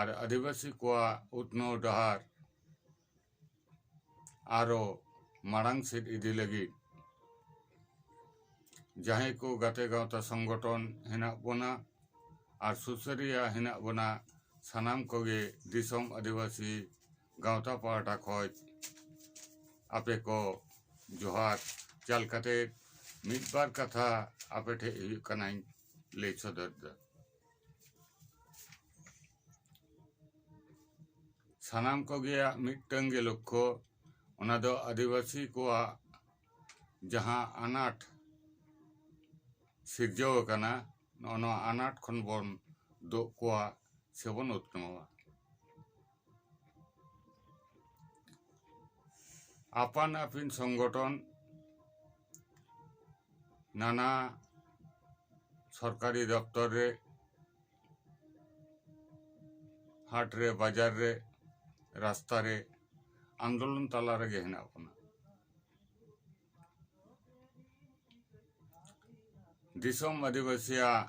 ᱟᱨ ᱟᱹᱫᱤᱵᱟᱹᱥᱤ ᱠᱚᱣᱟᱜ ᱩᱛᱱᱟᱹᱣ ᱰᱟᱦᱟᱨ ᱟᱨᱚ ᱢᱟᱲᱟᱝ ᱥᱮᱫ ᱤᱫᱤ ᱞᱟᱹᱜᱤᱫ ᱡᱟᱦᱟᱸᱭ ᱠᱚ ᱜᱟᱛᱮ ᱜᱟᱶᱛᱟ ᱥᱚᱝᱜᱚᱴᱷᱚᱱ ᱦᱮᱱᱟᱜ ᱵᱚᱱᱟ ᱟᱨ ᱥᱩᱥᱟᱹᱨᱤᱭᱟᱹ ᱦᱮᱱᱟᱜ ᱵᱚᱱᱟ ᱥᱟᱱᱟᱢ ᱠᱚᱜᱮ ᱫᱤᱥᱚᱢ ᱟᱹᱫᱤᱵᱟᱹᱥᱤ ᱜᱟᱶᱛᱟ ᱯᱟᱦᱴᱟ ᱠᱷᱚᱱ ᱟᱯᱮ ᱠᱚ ᱡᱚᱦᱟᱨ ᱪᱟᱞ ᱠᱟᱛᱮ ᱢᱤᱫ ᱵᱟᱨ ᱠᱟᱛᱷᱟ ᱟᱯᱮ ᱴᱷᱮᱱ ᱦᱩᱭᱩᱜ ᱠᱟᱱᱟᱧ ᱞᱟᱹᱭ ᱥᱚᱫᱚᱨ ᱮᱫᱟ ᱥᱟᱱᱟᱢ ᱠᱚᱜᱮᱭᱟᱜ ᱢᱤᱫᱴᱟᱝ ᱜᱮ ᱞᱚᱠᱠᱷᱚ ᱚᱱᱟ ᱫᱚ ᱟᱹᱫᱤᱵᱟᱹᱥᱤ ᱠᱚᱣᱟᱜ ᱡᱟᱦᱟᱸ ᱟᱱᱟᱴ ᱥᱤᱨᱡᱟᱹᱣ ᱟᱠᱟᱱᱟ ᱱᱚᱜᱼᱚ ᱱᱚᱣᱟ ᱟᱱᱟᱴ ᱠᱷᱚᱱ ᱵᱚᱱ ᱫᱩᱜ ᱠᱚᱣᱟ ᱥᱮᱵᱚᱱ ᱩᱛᱱᱟᱹᱣᱟ ᱟᱯᱟᱱ ᱟᱹᱯᱤᱱ ᱥᱚᱝᱜᱚᱴᱷᱚᱱ ᱱᱟᱱᱟ ᱥᱚᱨᱠᱟᱨᱤ ᱫᱚᱯᱛᱚᱨ ᱨᱮ ᱦᱟᱴ ᱨᱮ ᱵᱟᱡᱟᱨ ᱨᱮ ᱨᱟᱥᱛᱟ ᱨᱮ ᱟᱱᱫᱳᱞᱚᱱ ᱛᱟᱞᱟ ᱨᱮᱜᱮ ᱦᱮᱱᱟᱜ ᱵᱚᱱᱟ ᱫᱤᱥᱚᱢ ᱟᱹᱫᱤᱵᱟᱹᱥᱤᱭᱟᱜ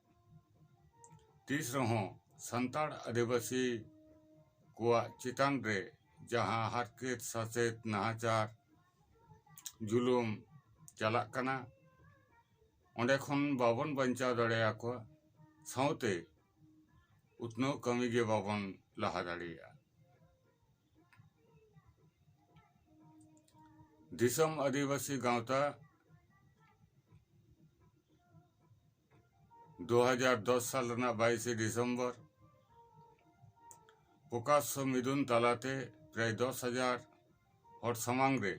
ᱛᱤᱥ ᱨᱮᱦᱚᱸ ᱥᱟᱱᱛᱟᱲ ᱟᱹᱫᱤᱵᱟᱹᱥᱤ ᱠᱚᱣᱟᱜ ᱪᱮᱛᱟᱱ ᱨᱮ ᱡᱟᱦᱟᱸ ᱦᱟᱨᱠᱮᱛ ᱥᱟᱥᱮᱛ ᱱᱟᱦᱟᱪᱟᱨ ᱡᱩᱞᱩᱢ ᱪᱟᱞᱟᱜ ᱠᱟᱱᱟ ᱚᱸᱰᱮ ᱠᱷᱚᱱ ᱵᱟᱵᱚᱱ ᱵᱟᱧᱪᱟᱣ ᱫᱟᱲᱮᱭᱟᱠᱚᱣᱟ ᱥᱟᱶᱛᱮ ᱩᱛᱱᱟᱹᱣ ᱠᱟᱹᱢᱤ ᱜᱮ ᱵᱟᱵᱚᱱ ᱞᱟᱦᱟ ᱫᱟᱲᱮᱭᱟᱜᱼᱟ ᱫᱤᱥᱚᱢ ᱟᱹᱫᱤᱵᱟᱹᱥᱤ ᱜᱟᱶᱛᱟ 2010 ᱥᱟᱞ ᱨᱮᱱᱟᱜ 22 ᱰᱤᱥᱮᱢᱵᱚᱨ ᱯᱨᱚᱠᱟᱥᱭᱚ ᱢᱤᱫᱩᱱ ᱛᱟᱞᱟᱛᱮ ᱯᱨᱟᱭ 10000 ᱦᱚᱲ ᱥᱟᱢᱟᱝ ᱨᱮ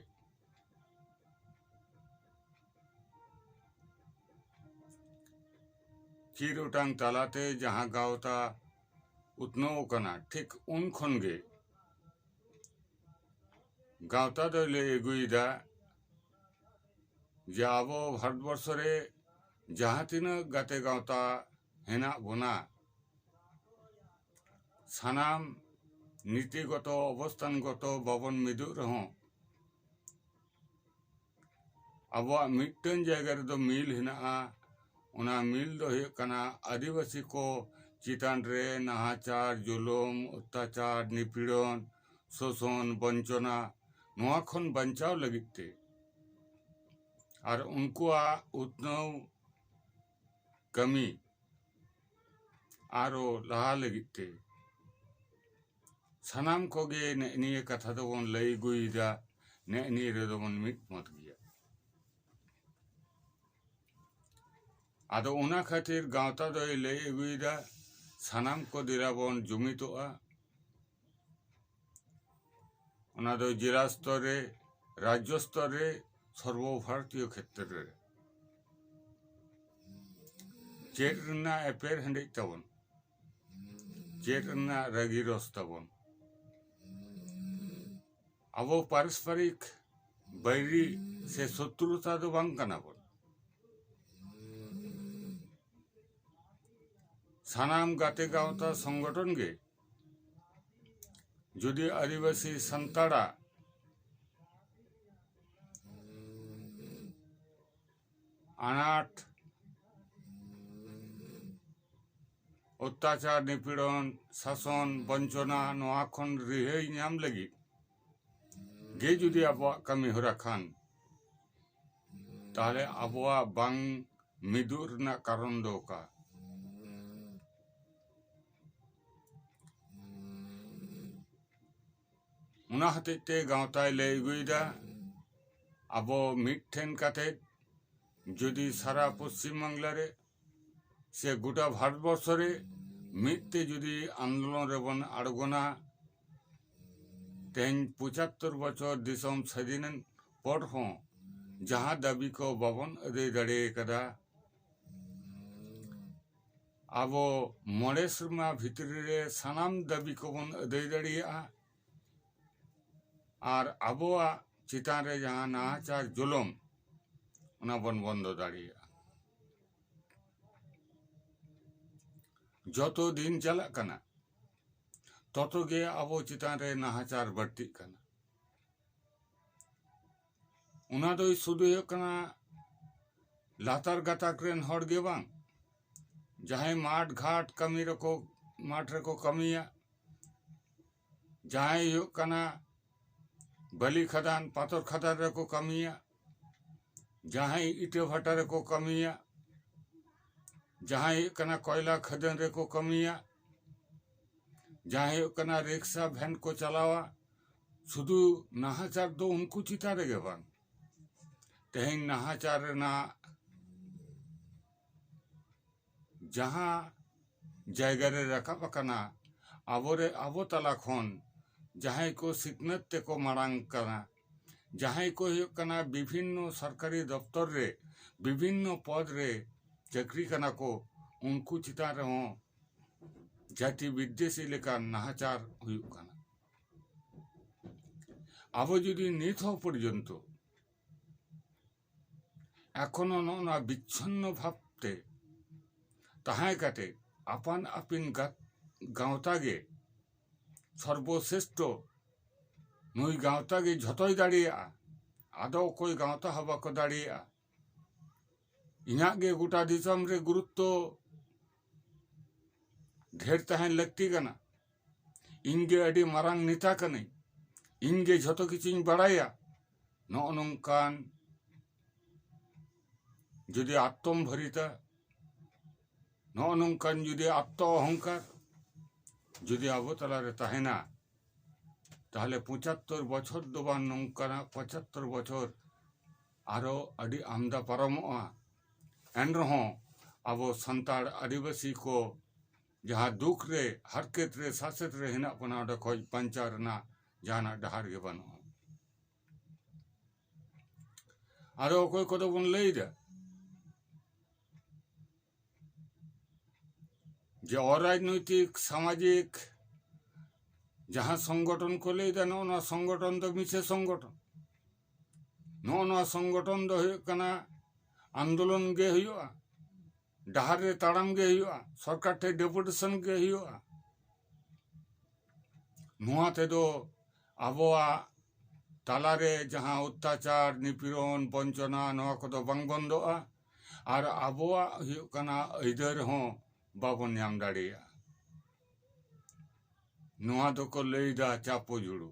ᱪᱤᱨ ᱚᱴᱟᱝ ᱛᱟᱞᱟᱛᱮ ᱡᱟᱦᱟᱸ ᱜᱟᱶᱛᱟ ᱩᱛᱱᱟᱹᱣ ᱟᱠᱟᱱᱟ ᱴᱷᱤᱠ ᱩᱱ ᱠᱷᱚᱱ ᱜᱮ ᱜᱟᱶᱛᱟ ᱫᱚᱭ ᱞᱟᱹᱭ ᱟᱹᱜᱩᱭᱮᱫᱟ ᱡᱮ ᱟᱵᱚ ᱵᱷᱟᱨᱚᱛ ᱵᱚᱨᱥᱚ ᱨᱮ ᱡᱟᱦᱟᱸ ᱛᱤᱱᱟᱹᱜ ᱜᱟᱛᱮ ᱜᱟᱶᱛᱟ ᱦᱮᱱᱟᱜ ᱵᱚᱱᱟ ᱥᱟᱱᱟᱢ ᱱᱤᱛᱤ ᱜᱚᱛᱚ ᱚᱵᱚᱥᱛᱟᱱ ᱜᱚᱛᱚ ᱵᱟᱵᱚᱱ ᱢᱤᱫᱚᱜ ᱨᱮᱦᱚᱸ ᱟᱵᱚᱣᱟᱜ ᱢᱤᱫᱴᱟᱹᱝ ᱡᱟᱭᱜᱟ ᱨᱮᱫᱚ ᱢᱤᱞ ᱦᱮᱱᱟᱜᱼᱟ ᱚᱱᱟ ᱢᱤᱞ ᱫᱚ ᱦᱩᱭᱩᱜ ᱠᱟᱱᱟ ᱟᱹᱫᱤᱵᱟᱹᱥᱤ ᱠᱚ ᱪᱮᱛᱟᱱ ᱨᱮ ᱱᱟᱦᱟᱪᱟᱨ ᱡᱩᱞᱩᱢ ᱚᱛᱛᱟᱪᱟᱨ ᱱᱤᱯᱤᱲᱚᱱ ᱥᱳᱥᱳᱱ ᱵᱚᱧᱪᱚᱱᱟ ᱱᱚᱣᱟ ᱠᱷᱚᱱ ᱵᱟᱧᱪᱟᱣ ᱞᱟᱹᱜᱤᱫ ᱛᱮ ᱟᱨ ᱩᱱᱠᱩᱣᱟᱜ ᱩᱛᱱᱟᱹᱣ ᱠᱟᱹᱢᱤ ᱟᱨᱚ ᱞᱟᱦᱟ ᱞᱟᱹᱜᱤᱫ ᱛᱮ ᱥᱟᱱᱟᱢ ᱠᱚᱜᱮ ᱱᱮᱜ ᱱᱤᱭᱟᱹ ᱠᱟᱛᱷᱟ ᱫᱚᱵᱚᱱ ᱞᱟᱹᱭ ᱟᱹᱜᱩᱭᱮᱫᱟ ᱱᱮᱜ ᱱᱤᱭᱟᱹ ᱨᱮᱫᱚ ᱵᱚᱱ ᱢᱤᱫ ᱢᱚᱛ ᱜᱮᱭᱟ ᱟᱫᱚ ᱚᱱᱟ ᱠᱷᱟᱹᱛᱤᱨ ᱜᱟᱶᱛᱟ ᱫᱚᱭ ᱞᱟᱹᱭ ᱟᱹᱜᱩᱭᱮᱫᱟ ᱥᱟᱱᱟᱢ ᱠᱚ ᱫᱮᱞᱟ ᱵᱚᱱ ᱡᱩᱢᱤᱫᱚᱜᱼᱟ ᱚᱱᱟ ᱫᱚ ᱡᱮᱞᱟ ᱥᱛᱚᱨ ᱨᱮ ᱨᱟᱡᱽᱡᱚ ᱥᱛᱚᱨ ᱨᱮ ᱥᱚᱨᱵᱚ ᱵᱷᱟᱨᱚᱛᱤᱭᱚ ᱠᱷᱮᱛᱨᱮ ᱨᱮ ᱪᱮᱫ ᱨᱮᱱᱟᱜ ᱮᱯᱮᱨ ᱦᱮᱸᱰᱮᱡ ᱛᱟᱵᱚᱱ ᱪᱮᱫ ᱨᱮᱱᱟᱜ ᱨᱟᱹᱜᱤ ᱨᱚᱥ ᱛᱟᱵᱚᱱ ᱟᱵᱚ ᱯᱟᱨᱚᱥᱯᱟᱨᱤᱠ ᱵᱟᱹᱭᱨᱤ ᱥᱮ ᱥᱚᱛᱨᱩᱛᱟ ᱫᱚ ᱵᱟᱝ ᱠᱟᱱᱟ ᱵᱚᱱ ᱥᱟᱱᱟᱢ ᱜᱟᱛᱮ ᱜᱟᱶᱛᱟ ᱥᱚᱝᱜᱚᱴᱷᱚᱱ ᱜᱮ ᱡᱩᱫᱤ ᱟᱹᱫᱤᱵᱟᱹᱥᱤ ᱥᱟᱱᱛᱟᱲᱟᱜ ᱟᱱᱟᱴ ᱚᱛᱛᱟᱪᱟᱨ ᱱᱤᱯᱤᱲᱚᱱ ᱥᱟᱥᱚᱱ ᱵᱚᱧᱪᱚᱱᱟ ᱱᱚᱣᱟ ᱠᱷᱚᱱ ᱨᱤᱦᱟᱹᱭ ᱧᱟᱢ ᱞᱟᱹᱜᱤᱫ ᱜᱮ ᱡᱩᱫᱤ ᱟᱵᱚᱣᱟᱜ ᱠᱟᱹᱢᱤ ᱦᱚᱨᱟ ᱠᱷᱟᱱ ᱛᱟᱦᱚᱞᱮ ᱟᱵᱚᱣᱟᱜ ᱵᱟᱝ ᱢᱤᱫᱩᱜ ᱨᱮᱱᱟᱜ ᱠᱟᱨᱚᱱ ᱫᱚ ᱚᱠᱟ ᱚᱱᱟ ᱦᱚᱛᱮᱡ ᱛᱮ ᱜᱟᱶᱛᱟᱭ ᱞᱟᱹᱭ ᱟᱹᱜᱩᱭᱮᱫᱟ ᱟᱵᱚ ᱢᱤᱫ ᱴᱷᱮᱱ ᱠᱟᱛᱮ ᱡᱩᱫᱤ ᱥᱟᱨᱟ ᱯᱚᱥᱪᱤᱢ ᱵᱟᱝᱞᱟ ᱨᱮ ᱥᱮ ᱜᱚᱴᱟ ᱵᱷᱟᱨᱚᱛ ᱵᱚᱨᱥᱚ ᱨᱮ ᱢᱤᱫ ᱛᱮ ᱡᱩᱫᱤ ᱟᱱᱫᱳᱞᱚᱱ ᱨᱮᱵᱚᱱ ᱟᱬᱜᱚᱱᱟ ᱛᱮᱦᱮᱧ ᱯᱚᱸᱪᱟᱛᱛᱳᱨ ᱵᱚᱪᱷᱚᱨ ᱫᱤᱥᱚᱢ ᱥᱟᱹᱫᱷᱤᱱᱮᱱ ᱯᱚᱨ ᱦᱚᱸ ᱡᱟᱦᱟᱸ ᱫᱟᱹᱵᱤ ᱠᱚ ᱵᱟᱵᱚᱱ ᱟᱹᱫᱟᱹᱭ ᱫᱟᱲᱮ ᱟᱠᱟᱫᱟ ᱟᱵᱚ ᱢᱚᱬᱮ ᱥᱮᱨᱢᱟ ᱵᱷᱤᱛᱨᱤ ᱨᱮ ᱥᱟᱱᱟᱢ ᱫᱟᱹᱵᱤ ᱠᱚᱵᱚᱱ ᱟᱹᱫᱟᱹᱭ ᱫᱟᱲᱮᱭᱟᱜᱼᱟ ᱟᱨ ᱟᱵᱚᱣᱟᱜ ᱪᱮᱛᱟᱱ ᱨᱮ ᱡᱟᱦᱟᱸ ᱱᱟᱦᱟᱪᱟᱨ ᱡᱩᱞᱩᱢ ᱚᱱᱟ ᱵᱚᱱ ᱵᱚᱱᱫᱚ ᱫᱟᱲᱮᱭᱟᱜᱼᱟ ᱡᱚᱛᱚ ᱫᱤᱱ ᱪᱟᱞᱟᱜ ᱠᱟᱱᱟ ᱛᱚᱛᱚ ᱜᱮ ᱟᱵᱚ ᱪᱮᱛᱟᱱ ᱨᱮ ᱱᱟᱦᱟᱪᱟᱨ ᱵᱟᱹᱲᱛᱤᱜ ᱠᱟᱱᱟ ᱚᱱᱟ ᱫᱚ ᱥᱩᱫᱷᱩ ᱦᱩᱭᱩᱜ ᱠᱟᱱᱟ ᱞᱟᱛᱟᱨ ᱜᱟᱛᱟᱠ ᱨᱮᱱ ᱦᱚᱲ ᱜᱮ ᱵᱟᱝ ᱡᱟᱦᱟᱸᱭ ᱢᱟᱴ ᱜᱷᱟᱴ ᱠᱟᱹᱢᱤ ᱨᱮᱠᱚ ᱢᱟᱴ ᱨᱮᱠᱚ ᱠᱟᱹᱢᱤᱭᱟ ᱡᱟᱦᱟᱸᱭ ᱦᱩᱭᱩᱜ ᱠᱟᱱᱟ ᱵᱟᱹᱞᱤ ᱠᱷᱟᱫᱟᱱ ᱯᱟᱛᱚᱨ ᱠᱷᱟᱫᱟᱱ ᱨᱮᱠᱚ ᱠᱟᱹᱢᱤᱭᱟ ᱡᱟᱦᱟᱸᱭ ᱤᱴᱟᱹ ᱵᱷᱟᱴᱟ ᱨᱮᱠᱚ ᱠᱟᱹᱢᱤᱭᱟ ᱡᱟᱦᱟᱸᱭ ᱦᱩᱭᱩᱜ ᱠᱟᱱᱟ ᱠᱚᱭᱞᱟ ᱠᱷᱟᱹᱫᱟᱹᱱ ᱨᱮᱠᱚ ᱠᱟᱹᱢᱤᱭᱟ ᱡᱟᱦᱟᱸᱭ ᱦᱩᱭᱩᱜ ᱠᱟᱱᱟ ᱨᱤᱠᱥᱟ ᱵᱷᱮᱱ ᱠᱚ ᱪᱟᱞᱟᱣᱟ ᱥᱩᱫᱩ ᱱᱟᱦᱟᱪᱟᱨ ᱫᱚ ᱩᱱᱠᱩ ᱪᱮᱛᱟᱱ ᱨᱮᱜᱮ ᱵᱟᱝ ᱛᱮᱦᱮᱧ ᱱᱟᱦᱟᱪᱟᱨ ᱨᱮᱱᱟᱜ ᱡᱟᱦᱟᱸ ᱡᱟᱭᱜᱟ ᱨᱮ ᱨᱟᱠᱟᱵ ᱟᱠᱟᱱᱟ ᱟᱵᱚᱨᱮ ᱟᱵᱚ ᱛᱟᱞᱟ ᱠᱷᱚᱱ ᱡᱟᱦᱟᱸᱭ ᱠᱚ ᱥᱤᱠᱷᱱᱟᱹᱛ ᱛᱮᱠᱚ ᱢᱟᱲᱟᱝ ᱠᱟᱱᱟ ᱡᱟᱦᱟᱸᱭ ᱠᱚ ᱦᱩᱭᱩᱜ ᱠᱟᱱᱟ ᱵᱤᱵᱷᱤᱱᱱᱚ ᱥᱚᱨᱠᱟᱨᱤ ᱫᱚᱯᱛᱚᱨ ᱨᱮ ᱵᱤᱵᱷᱤᱱᱱᱚ ᱯᱚᱫᱽ ᱨᱮ ᱪᱟᱹᱠᱨᱤ ᱠᱟᱱᱟ ᱠᱚ ᱩᱱᱠᱩ ᱪᱮᱛᱟᱱ ᱨᱮᱦᱚᱸ ᱡᱟᱛᱤ ᱵᱤᱫᱽᱫᱮᱥᱤ ᱞᱮᱠᱟᱱ ᱱᱟᱦᱟᱪᱟᱨ ᱦᱩᱭᱩᱜ ᱠᱟᱱᱟ ᱟᱵᱚ ᱡᱩᱫᱤ ᱱᱤᱛ ᱦᱚᱸ ᱯᱚᱨᱡᱚᱱᱛᱚ ᱮᱠᱷᱚᱱᱚ ᱱᱚᱜᱼᱚ ᱱᱚᱣᱟ ᱵᱤᱪᱷᱚᱱᱱᱚ ᱵᱷᱟᱵ ᱛᱮ ᱛᱟᱦᱮᱸ ᱠᱟᱛᱮ ᱟᱯᱟᱱ ᱟᱹᱯᱤᱱ ᱜᱟᱶᱛᱟ ᱜᱮ ᱥᱚᱨᱵᱚᱥᱨᱮᱥᱴᱷᱚ ᱱᱩᱭ ᱜᱟᱶᱛᱟ ᱜᱮ ᱡᱷᱚᱛᱚᱭ ᱫᱟᱲᱮᱭᱟᱜᱼᱟ ᱟᱫᱚ ᱚᱠᱚᱭ ᱜᱟᱶᱛᱟ ᱦᱚᱸ ᱵᱟᱠᱚ ᱫᱟᱲᱮᱭᱟᱜᱼᱟ ᱤᱧᱟᱹᱜ ᱜᱮ ᱜᱚᱴᱟ ᱫᱤᱥᱚᱢ ᱨᱮ ᱜᱩᱨᱩᱛᱛᱚ ᱰᱷᱮᱨ ᱛᱟᱦᱮᱱ ᱞᱟᱹᱠᱛᱤ ᱠᱟᱱᱟ ᱤᱧ ᱜᱮ ᱟᱹᱰᱤ ᱢᱟᱨᱟᱝ ᱱᱮᱛᱟ ᱠᱟᱹᱱᱟᱹᱧ ᱤᱧ ᱜᱮ ᱡᱷᱚᱛᱚ ᱠᱤᱪᱷᱩᱧ ᱵᱟᱲᱟᱭᱟ ᱱᱚᱜᱼᱚ ᱱᱚᱝᱠᱟᱱ ᱡᱩᱫᱤ ᱟᱛᱚᱢ ᱵᱷᱟᱹᱨᱤᱛᱟ ᱱᱚᱜᱼᱚ ᱱᱚᱝᱠᱟᱱ ᱡᱩᱫᱤ ᱟᱛᱛᱚ ᱚᱦᱚᱝᱠᱟᱨ ᱡᱩᱫᱤ ᱟᱵᱚ ᱛᱟᱞᱟ ᱨᱮ ᱛᱟᱦᱮᱱᱟ ᱛᱟᱦᱚᱞᱮ ᱯᱚᱸᱪᱟᱛᱛᱚᱨ ᱵᱚᱪᱷᱚᱨ ᱫᱚ ᱵᱟᱝ ᱱᱚᱝᱠᱟᱱᱟᱜ ᱯᱚᱸᱪᱟᱛᱛᱚᱨ ᱵᱚᱪᱷᱚᱨ ᱟᱨᱚ ᱟᱹᱰᱤ ᱟᱢᱫᱟ ᱯᱟᱨᱚᱢᱚᱜᱼᱟ ᱮᱱ ᱨᱮᱦᱚᱸ ᱟᱵᱚ ᱥᱟᱱᱛᱟᱲ ᱟᱹᱫᱤᱵᱟᱹᱥᱤ ᱠᱚ ᱡᱟᱦᱟᱸ ᱫᱩᱠ ᱨᱮ ᱦᱟᱨᱠᱮᱛ ᱨᱮ ᱥᱟᱥᱮᱛ ᱨᱮ ᱦᱮᱱᱟᱜ ᱵᱚᱱᱟ ᱚᱸᱰᱮ ᱠᱷᱚᱱ ᱵᱟᱧᱪᱟᱣ ᱨᱮᱱᱟᱜ ᱡᱟᱦᱟᱱᱟᱜ ᱰᱟᱦᱟᱨ ᱜᱮ ᱵᱟᱹᱱᱩᱜᱼᱟ ᱟᱫᱚ ᱚᱠᱚᱭ ᱠᱚᱫᱚ ᱵᱚᱱ ᱞᱟᱹᱭᱫᱟ ᱡᱮ ᱚᱨᱟᱡᱽᱱᱳᱭᱛᱤᱠ ᱥᱟᱢᱟᱡᱤᱠ ᱡᱟᱦᱟᱸ ᱥᱚᱝᱜᱚᱴᱷᱚᱱ ᱠᱚ ᱞᱟᱹᱭᱫᱟ ᱱᱚᱜᱼᱚ ᱱᱚᱣᱟ ᱥᱚᱝᱜᱚᱴᱷᱚᱱ ᱫᱚ ᱢᱤᱪᱷᱟᱹ ᱥᱚᱝᱜᱚᱴᱷᱚᱱ ᱱᱚᱜᱼᱚ ᱱᱚᱣᱟ ᱥᱚᱝᱜᱚᱴᱷᱚᱱ ᱫᱚ ᱦᱩᱭᱩᱜ ᱠᱟᱱᱟ ᱟᱱᱫᱳᱞᱚᱱ ᱜᱮ ᱦᱩᱭᱩᱜᱼᱟ ᱰᱟᱦᱟᱨ ᱨᱮ ᱛᱟᱲᱟᱢ ᱜᱮ ᱦᱩᱭᱩᱜᱼᱟ ᱥᱚᱨᱠᱟᱨ ᱴᱷᱮᱱ ᱰᱮᱯᱩᱴᱮᱥᱚᱱ ᱜᱮ ᱦᱩᱭᱩᱜᱼᱟ ᱱᱚᱣᱟ ᱛᱮᱫᱚ ᱟᱵᱚᱣᱟᱜ ᱛᱟᱞᱟᱨᱮ ᱡᱟᱦᱟᱸ ᱚᱛᱛᱟᱪᱟᱨ ᱱᱤᱯᱤᱲᱚᱱ ᱵᱚᱧᱪᱚᱱᱟ ᱱᱚᱣᱟ ᱠᱚᱫᱚ ᱵᱟᱝ ᱵᱚᱱᱫᱚᱜᱼᱟ ᱟᱨ ᱟᱵᱚᱣᱟᱜ ᱦᱩᱭᱩᱜ ᱠᱟᱱᱟ ᱟᱹᱭᱫᱟᱹᱨ ᱦᱚᱸ ᱵᱟᱵᱚᱱ ᱧᱟᱢ ᱫᱟᱲᱮᱭᱟᱜᱼᱟ ᱱᱚᱣᱟ ᱫᱚᱠᱚ ᱞᱟᱹᱭᱫᱟ ᱪᱟᱯᱚ ᱡᱩᱲᱩ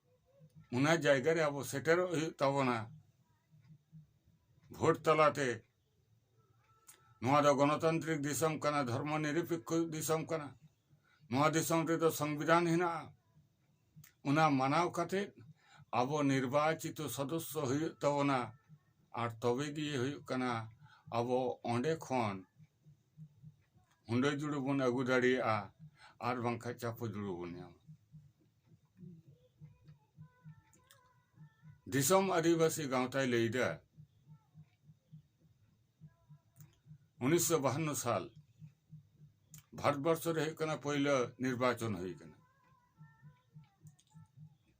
ᱚᱱᱟ ᱡᱟᱭᱜᱟ ᱨᱮ ᱟᱵᱚ ᱥᱮᱴᱮᱨᱚᱜ ᱦᱩᱭᱩᱜ ᱛᱟᱵᱚᱱᱟ ᱵᱷᱳᱴ ᱛᱟᱞᱟᱛᱮ ᱱᱚᱣᱟ ᱫᱚ ᱜᱚᱱᱚᱛᱟᱱᱛᱨᱤᱠ ᱫᱤᱥᱚᱢ ᱠᱟᱱᱟ ᱫᱷᱚᱨᱢᱚ ᱱᱤᱨᱚᱯᱮᱠᱠᱷᱚ ᱫᱤᱥᱚᱢ ᱠᱟᱱᱟ ᱱᱚᱣᱟ ᱫᱤᱥᱚᱢ ᱨᱮᱫᱚ ᱥᱚᱝᱵᱤᱫᱷᱟᱱ ᱦᱮᱱᱟᱜᱼᱟ ᱚᱱᱟ ᱢᱟᱱᱟᱣ ᱠᱟᱛᱮ ᱟᱵᱚ ᱱᱤᱨᱵᱟᱪᱤᱛᱚ ᱥᱚᱫᱚᱥᱥᱚ ᱦᱩᱭᱩᱜ ᱛᱟᱵᱚᱱᱟ ᱟᱨ ᱛᱚᱵᱮ ᱜᱮ ᱦᱩᱭᱩᱜ ᱠᱟᱱᱟ ᱟᱵᱚ ᱚᱸᱰᱮ ᱠᱷᱚᱱ ᱦᱩᱰᱟᱹ ᱡᱩᱲᱩ ᱵᱚᱱ ᱟᱹᱜᱩ ᱫᱟᱲᱮᱭᱟᱜᱼᱟ ᱟᱨ ᱵᱟᱝᱠᱷᱟᱱ ᱪᱟᱯᱚ ᱡᱩᱲᱩ ᱵᱚᱱ ᱧᱟᱢᱟ ᱫᱤᱥᱚᱢ ᱟᱹᱫᱤᱵᱟᱹᱥᱤ ᱜᱟᱶᱛᱟᱭ ᱞᱟᱹᱭᱫᱟ ᱩᱱᱤᱥᱥᱚ ᱵᱟᱦᱟᱱᱱᱚ ᱥᱟᱞ ᱵᱷᱟᱨᱚᱛᱵᱚᱨᱥᱚ ᱨᱮ ᱦᱩᱭᱩᱜ ᱠᱟᱱᱟ ᱯᱳᱭᱞᱳ ᱱᱤᱨᱵᱟᱪᱚᱱ ᱦᱩᱭ ᱠᱟᱱᱟ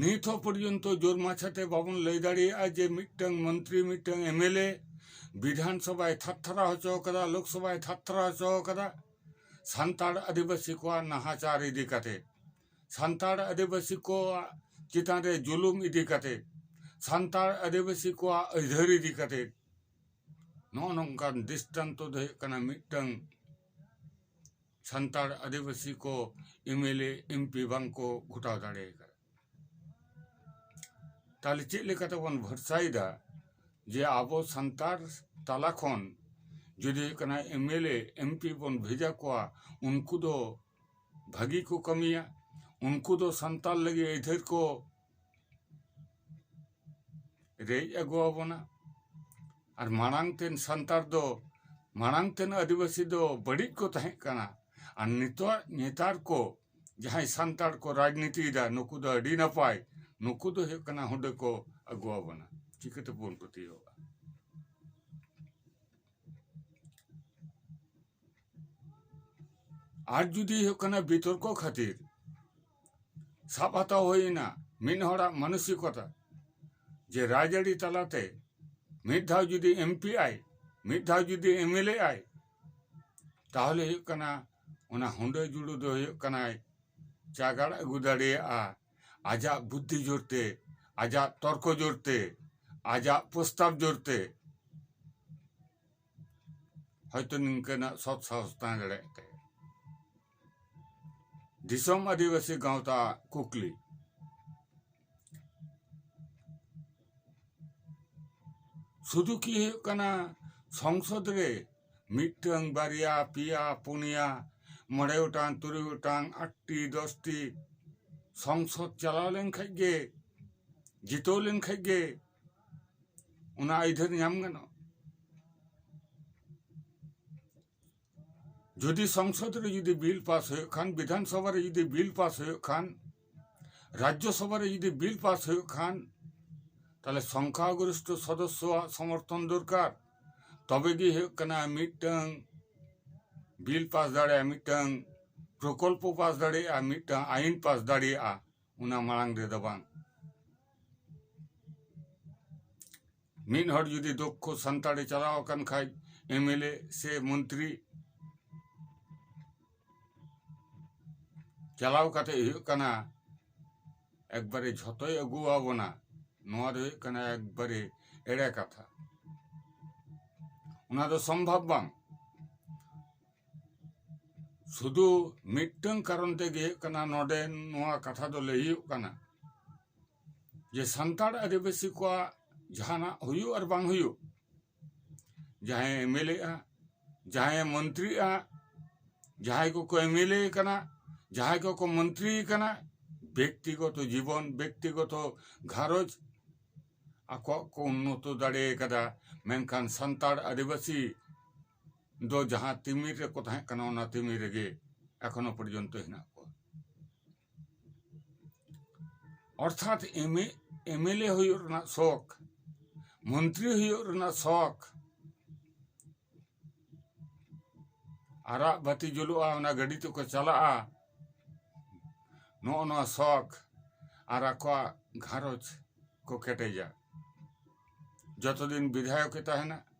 ᱱᱤᱛ ᱦᱚᱸ ᱯᱚᱨᱡᱚᱱᱛᱚ ᱡᱳᱨ ᱢᱟᱪᱷᱟ ᱛᱮ ᱵᱟᱵᱚᱱ ᱞᱟᱹᱭ ᱫᱟᱲᱮᱭᱟᱜᱼᱟ ᱡᱮ ᱢᱤᱫᱴᱟᱹᱝ ᱢᱚᱱᱛᱨᱤ ᱢᱤᱫᱴᱟᱹᱝ ᱮᱢ ᱮᱞ ᱮ ᱵᱤᱫᱷᱟᱱ ᱥᱚᱵᱷᱟᱭ ᱛᱷᱟᱨ ᱛᱷᱟᱨᱟᱣ ᱦᱚᱪᱚ ᱟᱠᱟᱫᱟ ᱞᱳᱠ ᱥᱚᱵᱷᱟᱭ ᱛᱷᱟᱨ ᱛᱷᱟᱨᱟᱣ ᱦᱚᱪᱚ ᱟᱠᱟᱫᱟ ᱥᱟᱱᱛᱟᱲ ᱟᱹᱫᱤᱵᱟᱹᱥᱤ ᱠᱚᱣᱟᱜ ᱱᱟᱦᱟᱪᱟᱨ ᱤᱫᱤ ᱠᱟᱛᱮᱫ ᱥᱟᱱᱛᱟᱲ ᱟᱹᱫᱤᱵᱟᱹᱥᱤ ᱠᱚᱣᱟᱜ ᱪᱮᱛᱟᱱ ᱨᱮ ᱡᱩᱞᱩᱢ ᱤᱫᱤ ᱠᱟᱛᱮᱫ ᱥᱟᱱᱛᱟᱲ ᱟᱹᱫᱤᱵᱟᱹᱥᱤ ᱠᱚᱣᱟᱜ ᱟᱹᱭᱫᱷᱟᱹᱨ ᱤᱫᱤ ᱠᱟᱛᱮᱫ ᱱᱚᱜᱼᱚ ᱱᱚᱝᱠᱟᱱ ᱫᱤᱥᱴᱟᱱᱛᱚ ᱫᱚ ᱦᱩᱭᱩᱜ ᱠᱟᱱᱟ ᱢᱤᱫᱴᱟᱹᱝ ᱥᱟᱱᱛᱟᱲ ᱟᱹᱫᱤᱵᱟᱹᱥᱤ ᱠᱚ M L A M P ᱵᱟᱝ ᱠᱚ ᱜᱷᱚᱴᱟᱣ ᱫᱟᱲᱮ ᱠᱟᱫᱟ ᱛᱟᱦᱚᱞᱮ ᱪᱮᱫ ᱞᱮᱠᱟ ᱛᱮᱵᱚᱱ ᱵᱷᱚᱨᱥᱟᱭᱮᱫᱟ ᱡᱮ ᱟᱵᱚ ᱥᱟᱱᱛᱟᱲ ᱛᱟᱞᱟ ᱠᱷᱚᱱ ᱡᱩᱫᱤ ᱦᱩᱭᱩᱜ ᱠᱟᱱᱟ M L A M P ᱵᱚᱱ ᱵᱷᱮᱡᱟ ᱠᱚᱣᱟ ᱩᱱᱠᱩ ᱫᱚ ᱵᱷᱟᱹᱜᱤ ᱠᱚ ᱠᱟᱹᱢᱤᱭᱟ ᱩᱱᱠᱩ ᱫᱚ ᱥᱟᱱᱛᱟᱲ ᱞᱟᱹᱜᱤᱫ ᱟᱹᱭᱫᱷᱟᱹᱨ ᱠᱚ ᱨᱮᱡ ᱟᱹᱜᱩ ᱟᱵᱚᱱᱟ ᱟᱨ ᱢᱟᱲᱟᱝ ᱛᱮᱱ ᱥᱟᱱᱛᱟᱲ ᱫᱚ ᱢᱟᱲᱟᱝ ᱛᱮᱱ ᱟᱹᱫᱤᱵᱟᱹᱥᱤ ᱫᱚ ᱵᱟᱹᱲᱤᱡ ᱠᱚ ᱛᱟᱦᱮᱸ ᱠᱟᱱᱟ ᱟᱨ ᱱᱤᱛᱚᱜ ᱱᱮᱛᱟᱨ ᱠᱚ ᱡᱟᱦᱟᱸᱭ ᱥᱟᱱᱛᱟᱲ ᱠᱚ ᱨᱟᱡᱽᱱᱤᱛᱤᱭᱮᱫᱟ ᱱᱩᱠᱩ ᱫᱚ ᱟᱹᱰᱤ ᱱᱟᱯᱟᱭ ᱱᱩᱠᱩ ᱫᱚ ᱦᱩᱭᱩᱜ ᱠᱟᱱᱟ ᱦᱩᱰᱟᱹ ᱠᱚ ᱟᱹᱜᱩ ᱟᱵᱚᱱᱟ ᱪᱤᱠᱟᱹ ᱛᱮᱵᱚᱱ ᱯᱟᱹᱛᱭᱟᱹᱣᱟᱜᱼᱟ ᱟᱨ ᱡᱩᱫᱤ ᱦᱩᱭᱩᱜ ᱠᱟᱱᱟ ᱵᱤᱛᱚᱨᱠᱚ ᱠᱷᱟᱹᱛᱤᱨ ᱥᱟᱵ ᱦᱟᱛᱟᱣ ᱦᱩᱭᱮᱱᱟ ᱢᱤᱫ ᱦᱚᱲᱟᱜ ᱢᱟᱱᱚᱥᱤᱠᱚᱛᱟ ᱡᱮ ᱨᱟᱡᱽᱟᱹᱨᱤ ᱛᱟᱞᱟᱛᱮ ᱢᱤᱫ ᱫᱷᱟᱣ ᱡᱩᱫᱤ ᱮᱢ ᱯᱤ ᱟᱭ ᱢᱤᱫ ᱫᱷᱟᱣ ᱡᱩᱫᱤ ᱮᱢ ᱮᱞ ᱮ ᱟᱭ ᱛᱟᱦᱚᱞᱮ ᱦᱩᱭᱩᱜ ᱠᱟᱱᱟ ᱚᱱᱟ ᱦᱩᱰᱟᱹ ᱡᱩᱲᱩ ᱫᱚ ᱦᱩᱭᱩᱜ ᱠᱟᱱᱟᱭ ᱪᱟᱜᱟᱲ ᱟᱹᱜᱩ ᱫᱟᱲᱮᱭᱟᱜᱼᱟ ᱟᱡᱟᱜ ᱵᱩᱫᱽᱫᱷᱤ ᱡᱳᱨᱛᱮ ᱟᱡᱟᱜ ᱛᱚᱨᱠᱚ ᱡᱳᱨᱛᱮ ᱟᱡᱟᱜ ᱯᱨᱚᱥᱛᱟᱵᱽ ᱡᱳᱨᱛᱮ ᱦᱚᱭᱛᱚ ᱱᱤᱝᱠᱟᱹᱱᱟᱜ ᱥᱚᱛ ᱥᱟᱦᱚᱥ ᱛᱟᱦᱮᱸ ᱫᱟᱲᱮᱭᱟᱜ ᱛᱟᱭᱟ ᱫᱤᱥᱚᱢ ᱟᱹᱫᱤᱵᱟᱹᱥᱤ ᱜᱟᱶᱛᱟ ᱠᱩᱠᱞᱤ ᱥᱩᱫᱷᱩ ᱠᱤ ᱦᱩᱭᱩᱜ ᱠᱟᱱᱟ ᱥᱚᱝᱥᱚᱫ ᱨᱮ ᱢᱤᱫᱴᱟᱝ ᱵᱟᱨᱭᱟ ᱯᱮᱭᱟ ᱯᱩᱱᱭᱟ ᱢᱚᱬᱮ ᱜᱚᱴᱟᱝ ᱛᱩᱨᱩᱭ ᱜᱚᱴᱟᱝ ᱟᱴᱴᱤ ᱫᱚᱥᱴᱤ ᱥᱚᱝᱥᱚᱫ ᱪᱟᱞᱟᱣ ᱞᱮᱱᱠᱷᱟᱱ ᱜᱮ ᱡᱤᱛᱟᱹᱣ ᱞᱮᱱᱠᱷᱟᱱ ᱜᱮ ᱚᱱᱟ ᱟᱹᱭᱫᱷᱟᱹᱨ ᱧᱟᱢ ᱜᱟᱱᱚᱜᱼᱟ ᱡᱩᱫᱤ ᱥᱚᱝᱥᱚᱫ ᱨᱮ ᱡᱩᱫᱤ ᱵᱤᱞ ᱯᱟᱥ ᱦᱩᱭᱩᱜ ᱠᱷᱟᱱ ᱵᱤᱫᱷᱟᱱ ᱥᱚᱵᱷᱟ ᱨᱮ ᱡᱩᱫᱤ ᱵᱤᱞ ᱯᱟᱥ ᱦᱩᱭᱩᱜ ᱠᱷᱟᱱ ᱨᱟᱡᱽᱡᱚ ᱥᱚᱵᱷᱟ ᱨᱮ ᱡᱩᱫᱤ ᱵᱤᱞ ᱯᱟᱥ ᱦᱩᱭᱩᱜ ᱠᱷᱟᱱ ᱛᱟᱦᱞᱮ ᱥᱚᱝᱠᱷᱟ ᱜᱚᱨᱤᱥᱴᱷᱚ ᱥᱚᱫᱚᱥᱥᱚᱣᱟᱜ ᱥᱚᱢᱚᱨᱛᱷᱚᱱ ᱫᱚᱨᱠᱟᱨ ᱛᱚᱵᱮ ᱜᱮ ᱦᱩᱭᱩᱜ ᱠᱟᱱᱟ ᱢᱤᱫᱴᱟᱹᱝ ᱵᱤᱞ ᱯᱟᱥ ᱫᱟᱲᱮᱭᱟᱜᱼᱟ ᱢᱤᱫᱴᱟᱹᱝ ᱯᱨᱚᱠᱚᱞᱯᱚ ᱯᱟᱥ ᱫᱟᱲᱮᱭᱟᱜᱼᱟ ᱢᱤᱫᱴᱟᱹᱝ ᱟᱭᱤᱱ ᱯᱟᱥ ᱫᱟᱲᱮᱭᱟᱜᱼᱟ ᱚᱱᱟ ᱢᱟᱲᱟᱝ ᱨᱮᱫᱚ ᱵᱟᱝ ᱢᱤᱫ ᱦᱚᱲ ᱡᱩᱫᱤ ᱫᱚᱠᱷᱚ ᱥᱟᱱᱛᱟᱲᱮ ᱪᱟᱞᱟᱣ ᱟᱠᱟᱱ ᱠᱷᱟᱡ ᱮᱢᱮᱞᱮ ᱥᱮ ᱢᱚᱱᱛᱨᱤ ᱪᱟᱞᱟᱣ ᱠᱟᱛᱮ ᱦᱩᱭᱩᱜ ᱠᱟᱱᱟ ᱮᱠᱵᱟᱨᱮ ᱡᱷᱚᱛᱚᱭ ᱟᱹᱜᱩᱣᱟᱵᱚᱱᱟ ᱱᱚᱣᱟ ᱫᱚ ᱦᱩᱭᱩᱜ ᱠᱟᱱᱟ ᱮᱠᱵᱟᱨᱮ ᱮᱲᱮ ᱠᱟᱛᱷᱟ ᱚᱱᱟ ᱫᱚ ᱥᱚᱢᱵᱷᱚᱵ ᱵᱟᱝ ᱥᱩᱫᱩ ᱢᱤᱫᱴᱟᱝ ᱠᱟᱨᱚᱱ ᱛᱮᱜᱮ ᱦᱩᱭᱩᱜ ᱠᱟᱱᱟ ᱱᱚᱰᱮ ᱱᱚᱣᱟ ᱠᱟᱛᱷᱟ ᱫᱚ ᱞᱟᱹᱭ ᱦᱩᱭᱩᱜ ᱠᱟᱱᱟ ᱡᱮ ᱥᱟᱱᱛᱟᱲ ᱟᱹᱫᱤᱵᱟᱹᱥᱤ ᱠᱚᱣᱟᱜ ᱡᱟᱦᱟᱸᱱᱟᱜ ᱦᱩᱭᱩᱜ ᱟᱨ ᱵᱟᱝ ᱦᱩᱭᱩᱜ ᱡᱟᱦᱟᱸᱭᱮ ᱮᱢᱮᱞᱮᱜᱼᱟ ᱡᱟᱦᱟᱸᱭᱮ ᱢᱚᱱᱛᱨᱤᱜᱼᱟ ᱡᱟᱦᱟᱸᱭ ᱠᱚᱠᱚ ᱮᱢᱮᱞᱮ ᱠᱟᱱᱟ ᱡᱟᱦᱟᱸᱭ ᱠᱚᱠᱚ ᱢᱚᱱᱛᱨᱤ ᱠᱟᱱᱟ ᱵᱮᱠᱛᱤᱜᱚᱛᱚ ᱡᱤᱵᱚᱱ ᱵᱮᱠᱛᱤᱜᱚᱛᱚ ᱜᱷᱟᱨᱚᱸᱡᱽ ᱟᱠᱚᱣᱟᱜ ᱠᱚ ᱩᱱᱱᱚᱛᱚ ᱫᱟᱲᱮ ᱠᱟᱫᱟ ᱢᱮᱱᱠᱷᱟᱱ ᱥᱟᱱᱛᱟᱲ ᱟᱹᱫᱤᱵᱟᱹᱥᱤ ᱫᱚ ᱡᱟᱦᱟᱸ ᱛᱤᱢᱤᱨ ᱨᱮᱠᱚ ᱛᱟᱦᱮᱸ ᱠᱟᱱᱟ ᱚᱱᱟ ᱛᱤᱢᱤᱨ ᱨᱮᱜᱮ ᱮᱠᱷᱚᱱᱚ ᱯᱚᱨᱡᱚᱱᱛᱚ ᱦᱮᱱᱟᱜ ᱠᱚᱣᱟ ᱚᱨᱛᱷᱟᱛ ᱮᱢᱮ ᱮᱢᱮᱞᱮ ᱦᱩᱭᱩᱜ ᱨᱮᱱᱟᱜ ᱥᱚᱠ ᱢᱚᱱᱛᱨᱤ ᱦᱩᱭᱩᱜ ᱨᱮᱱᱟᱜ ᱥᱚᱠ ᱟᱨᱟᱜ ᱵᱟᱹᱛᱤ ᱡᱩᱞᱩᱜᱼᱟ ᱚᱱᱟ ᱜᱟᱹᱰᱤ ᱛᱮᱠᱚ ᱪᱟᱞᱟᱜᱼᱟ ᱱᱚᱜᱼᱚ ᱱᱚᱣᱟ ᱥᱚᱠ ᱟᱨ ᱟᱠᱚᱣᱟᱜ ᱜᱷᱟᱨᱚᱸᱡᱽ ᱠᱚ ᱠᱮᱴᱮᱡᱟ ᱡᱚᱛᱚ ᱫᱤᱱ ᱵᱤᱫᱷᱟᱭᱚᱠᱮ ᱛᱟᱦᱮᱱᱟ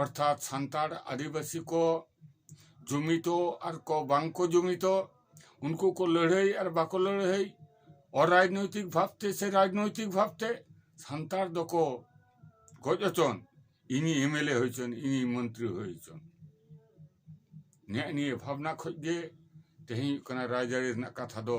ᱚᱨᱛᱷᱟᱛ ᱥᱟᱱᱛᱟᱲ ᱟᱹᱫᱤᱵᱟᱹᱥᱤ ᱠᱚ ᱡᱩᱢᱤᱫᱚᱜ ᱟᱨ ᱠᱚ ᱵᱟᱝ ᱠᱚ ᱡᱩᱢᱤᱫᱚᱜ ᱩᱱᱠᱩ ᱠᱚ ᱞᱟᱹᱲᱦᱟᱹᱭ ᱟᱨ ᱵᱟᱠᱚ ᱞᱟᱹᱲᱦᱟᱹᱭ ᱚᱨᱟᱡᱽᱱᱳᱭᱛᱤᱠ ᱵᱷᱟᱵᱽ ᱛᱮ ᱥᱮ ᱨᱟᱡᱽᱱᱳᱭᱛᱤᱠ ᱵᱷᱟᱵᱽ ᱛᱮ ᱥᱟᱱᱛᱟᱲ ᱫᱚᱠᱚ ᱜᱚᱡ ᱦᱚᱪᱚᱱ ᱤᱧᱤᱡ ᱮᱢ ᱮᱞ ᱮ ᱦᱩᱭ ᱦᱚᱪᱚᱱ ᱤᱧᱤᱡ ᱢᱚᱱᱛᱨᱤ ᱦᱩᱭ ᱦᱚᱪᱚᱱ ᱱᱮᱜᱼᱮ ᱱᱤᱭᱟᱹ ᱵᱷᱟᱵᱽᱱᱟ ᱠᱷᱚᱱ ᱜᱮ ᱛᱮᱦᱮᱧ ᱦᱩᱭᱩᱜ ᱠᱟᱱᱟ ᱨᱟᱡᱽᱟᱹᱨᱤ ᱨᱮᱱᱟᱜ ᱠᱟᱛᱷᱟ ᱫᱚ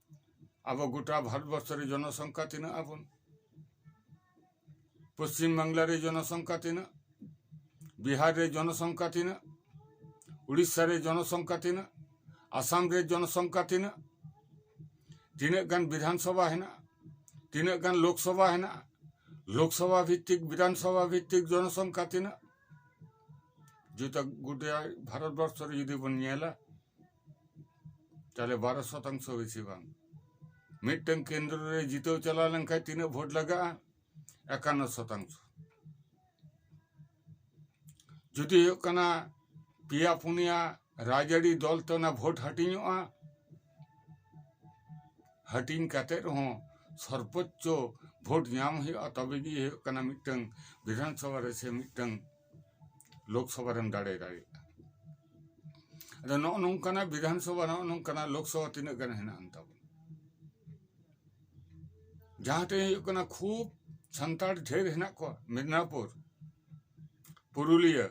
ᱟᱵᱚ ᱜᱚᱴᱟ ᱵᱷᱟᱨᱚᱛ ᱵᱚᱨᱥᱚ ᱨᱮ ᱡᱚᱱᱚ ᱥᱚᱝᱠᱷᱟ ᱛᱤᱱᱟᱹᱜ ᱟᱵᱚᱱ ᱯᱚᱥᱪᱤᱢ ᱵᱟᱝᱞᱟ ᱨᱮ ᱡᱚᱱᱚ ᱥᱚᱝᱠᱷᱟ ᱛᱤᱱᱟᱹᱜ ᱵᱤᱦᱟᱨ ᱨᱮ ᱡᱚᱱᱚ ᱥᱚᱝᱠᱷᱟ ᱛᱤᱱᱟᱹᱜ ᱩᱲᱤᱥᱥᱟ ᱨᱮ ᱡᱚᱱᱚ ᱥᱚᱝᱠᱷᱟ ᱛᱤᱱᱟᱹᱜ ᱟᱥᱟᱢ ᱨᱮ ᱡᱚᱱᱚ ᱥᱚᱝᱠᱷᱟ ᱛᱤᱱᱟᱹᱜ ᱛᱤᱱᱟᱹᱜ ᱜᱟᱱ ᱵᱤᱫᱷᱟᱱ ᱥᱚᱵᱷᱟ ᱦᱮᱱᱟᱜᱼᱟ ᱛᱤᱱᱟᱹᱜ ᱜᱟᱱ ᱞᱳᱠ ᱥᱚᱵᱷᱟ ᱦᱮᱱᱟᱜᱼᱟ ᱞᱳᱠ ᱥᱚᱵᱷᱟ ᱵᱷᱤᱛᱛᱤᱠ ᱵᱤᱫᱷᱟᱱ ᱥᱚᱵᱷᱟ ᱵᱷᱤᱛᱛᱤᱠ ᱡᱚᱱᱚ ᱥᱚᱝᱠᱷᱟ ᱛᱤᱱᱟᱹᱜ ᱡᱩᱫᱤ ᱜᱚᱴᱟ ᱵᱷᱟᱨᱚᱛ ᱵᱚᱨᱥᱚ ᱨᱮ ᱡᱩᱫᱤ ᱵᱚᱱ ᱧᱮᱞᱟ ᱛᱟᱦᱞᱮ ᱵᱟᱨᱚ ᱥᱚᱛᱟᱝᱥᱚ ᱵᱮᱥᱤ ᱵᱟᱝ ᱢᱤᱫᱴᱟᱝ ᱠᱮᱱᱫᱨᱚ ᱨᱮ ᱡᱤᱛᱟᱹᱣ ᱪᱟᱞᱟᱣ ᱞᱮᱱᱠᱷᱟᱱ ᱛᱤᱱᱟᱹᱜ ᱵᱷᱳᱴ ᱞᱟᱜᱟᱜᱼᱟ ᱮᱠᱟᱱᱱᱚ ᱥᱚᱛᱟᱝᱥᱚ ᱡᱩᱫᱤ ᱦᱩᱭᱩᱜ ᱠᱟᱱᱟ ᱯᱮᱭᱟ ᱯᱩᱱᱭᱟ ᱨᱟᱡᱽᱟᱹᱨᱤ ᱫᱚᱞ ᱛᱮ ᱚᱱᱟ ᱵᱷᱳᱴ ᱦᱟᱹᱴᱤᱧᱚᱜᱼᱟ ᱦᱟᱹᱴᱤᱧ ᱠᱟᱛᱮ ᱨᱮᱦᱚᱸ ᱥᱚᱨᱵᱚᱪᱪᱚ ᱵᱷᱳᱴ ᱧᱟᱢ ᱦᱩᱭᱩᱜᱼᱟ ᱛᱚᱵᱮ ᱜᱮ ᱦᱩᱭᱩᱜ ᱠᱟᱱᱟ ᱢᱤᱫᱴᱟᱝ ᱵᱤᱫᱷᱟᱱᱥᱚᱵᱷᱟ ᱨᱮ ᱥᱮ ᱢᱤᱫᱴᱟᱝ ᱞᱳᱠᱥᱚᱵᱷᱟ ᱨᱮᱢ ᱫᱟᱲᱮ ᱫᱟᱲᱮᱭᱟᱜᱼᱟ ᱟᱫᱚ ᱱᱚᱜᱼᱚ ᱱᱚᱝᱠᱟᱱᱟᱜ ᱵᱤᱫᱷᱟᱱ ᱥᱚᱵᱷᱟ ᱱᱚᱜᱼᱚ ᱱᱚᱝᱠᱟᱱᱟᱜ ᱞᱳᱠᱥᱚᱵᱷᱟ ᱛᱤᱱᱟᱹᱜ ᱜᱟᱱ ᱦᱮᱱᱟᱜ ᱟᱱ ᱛᱟᱵᱚᱱ ᱡᱟᱦᱟᱸ ᱴᱷᱮᱱ ᱦᱩᱭᱩᱜ ᱠᱟᱱᱟ ᱠᱷᱩᱵ ᱥᱟᱱᱛᱟᱲ ᱰᱷᱮᱨ ᱦᱮᱱᱟᱜ ᱠᱚᱣᱟ ᱢᱮᱫᱽᱱᱟᱯᱩᱨ ᱯᱩᱨᱩᱞᱤᱭᱟᱹ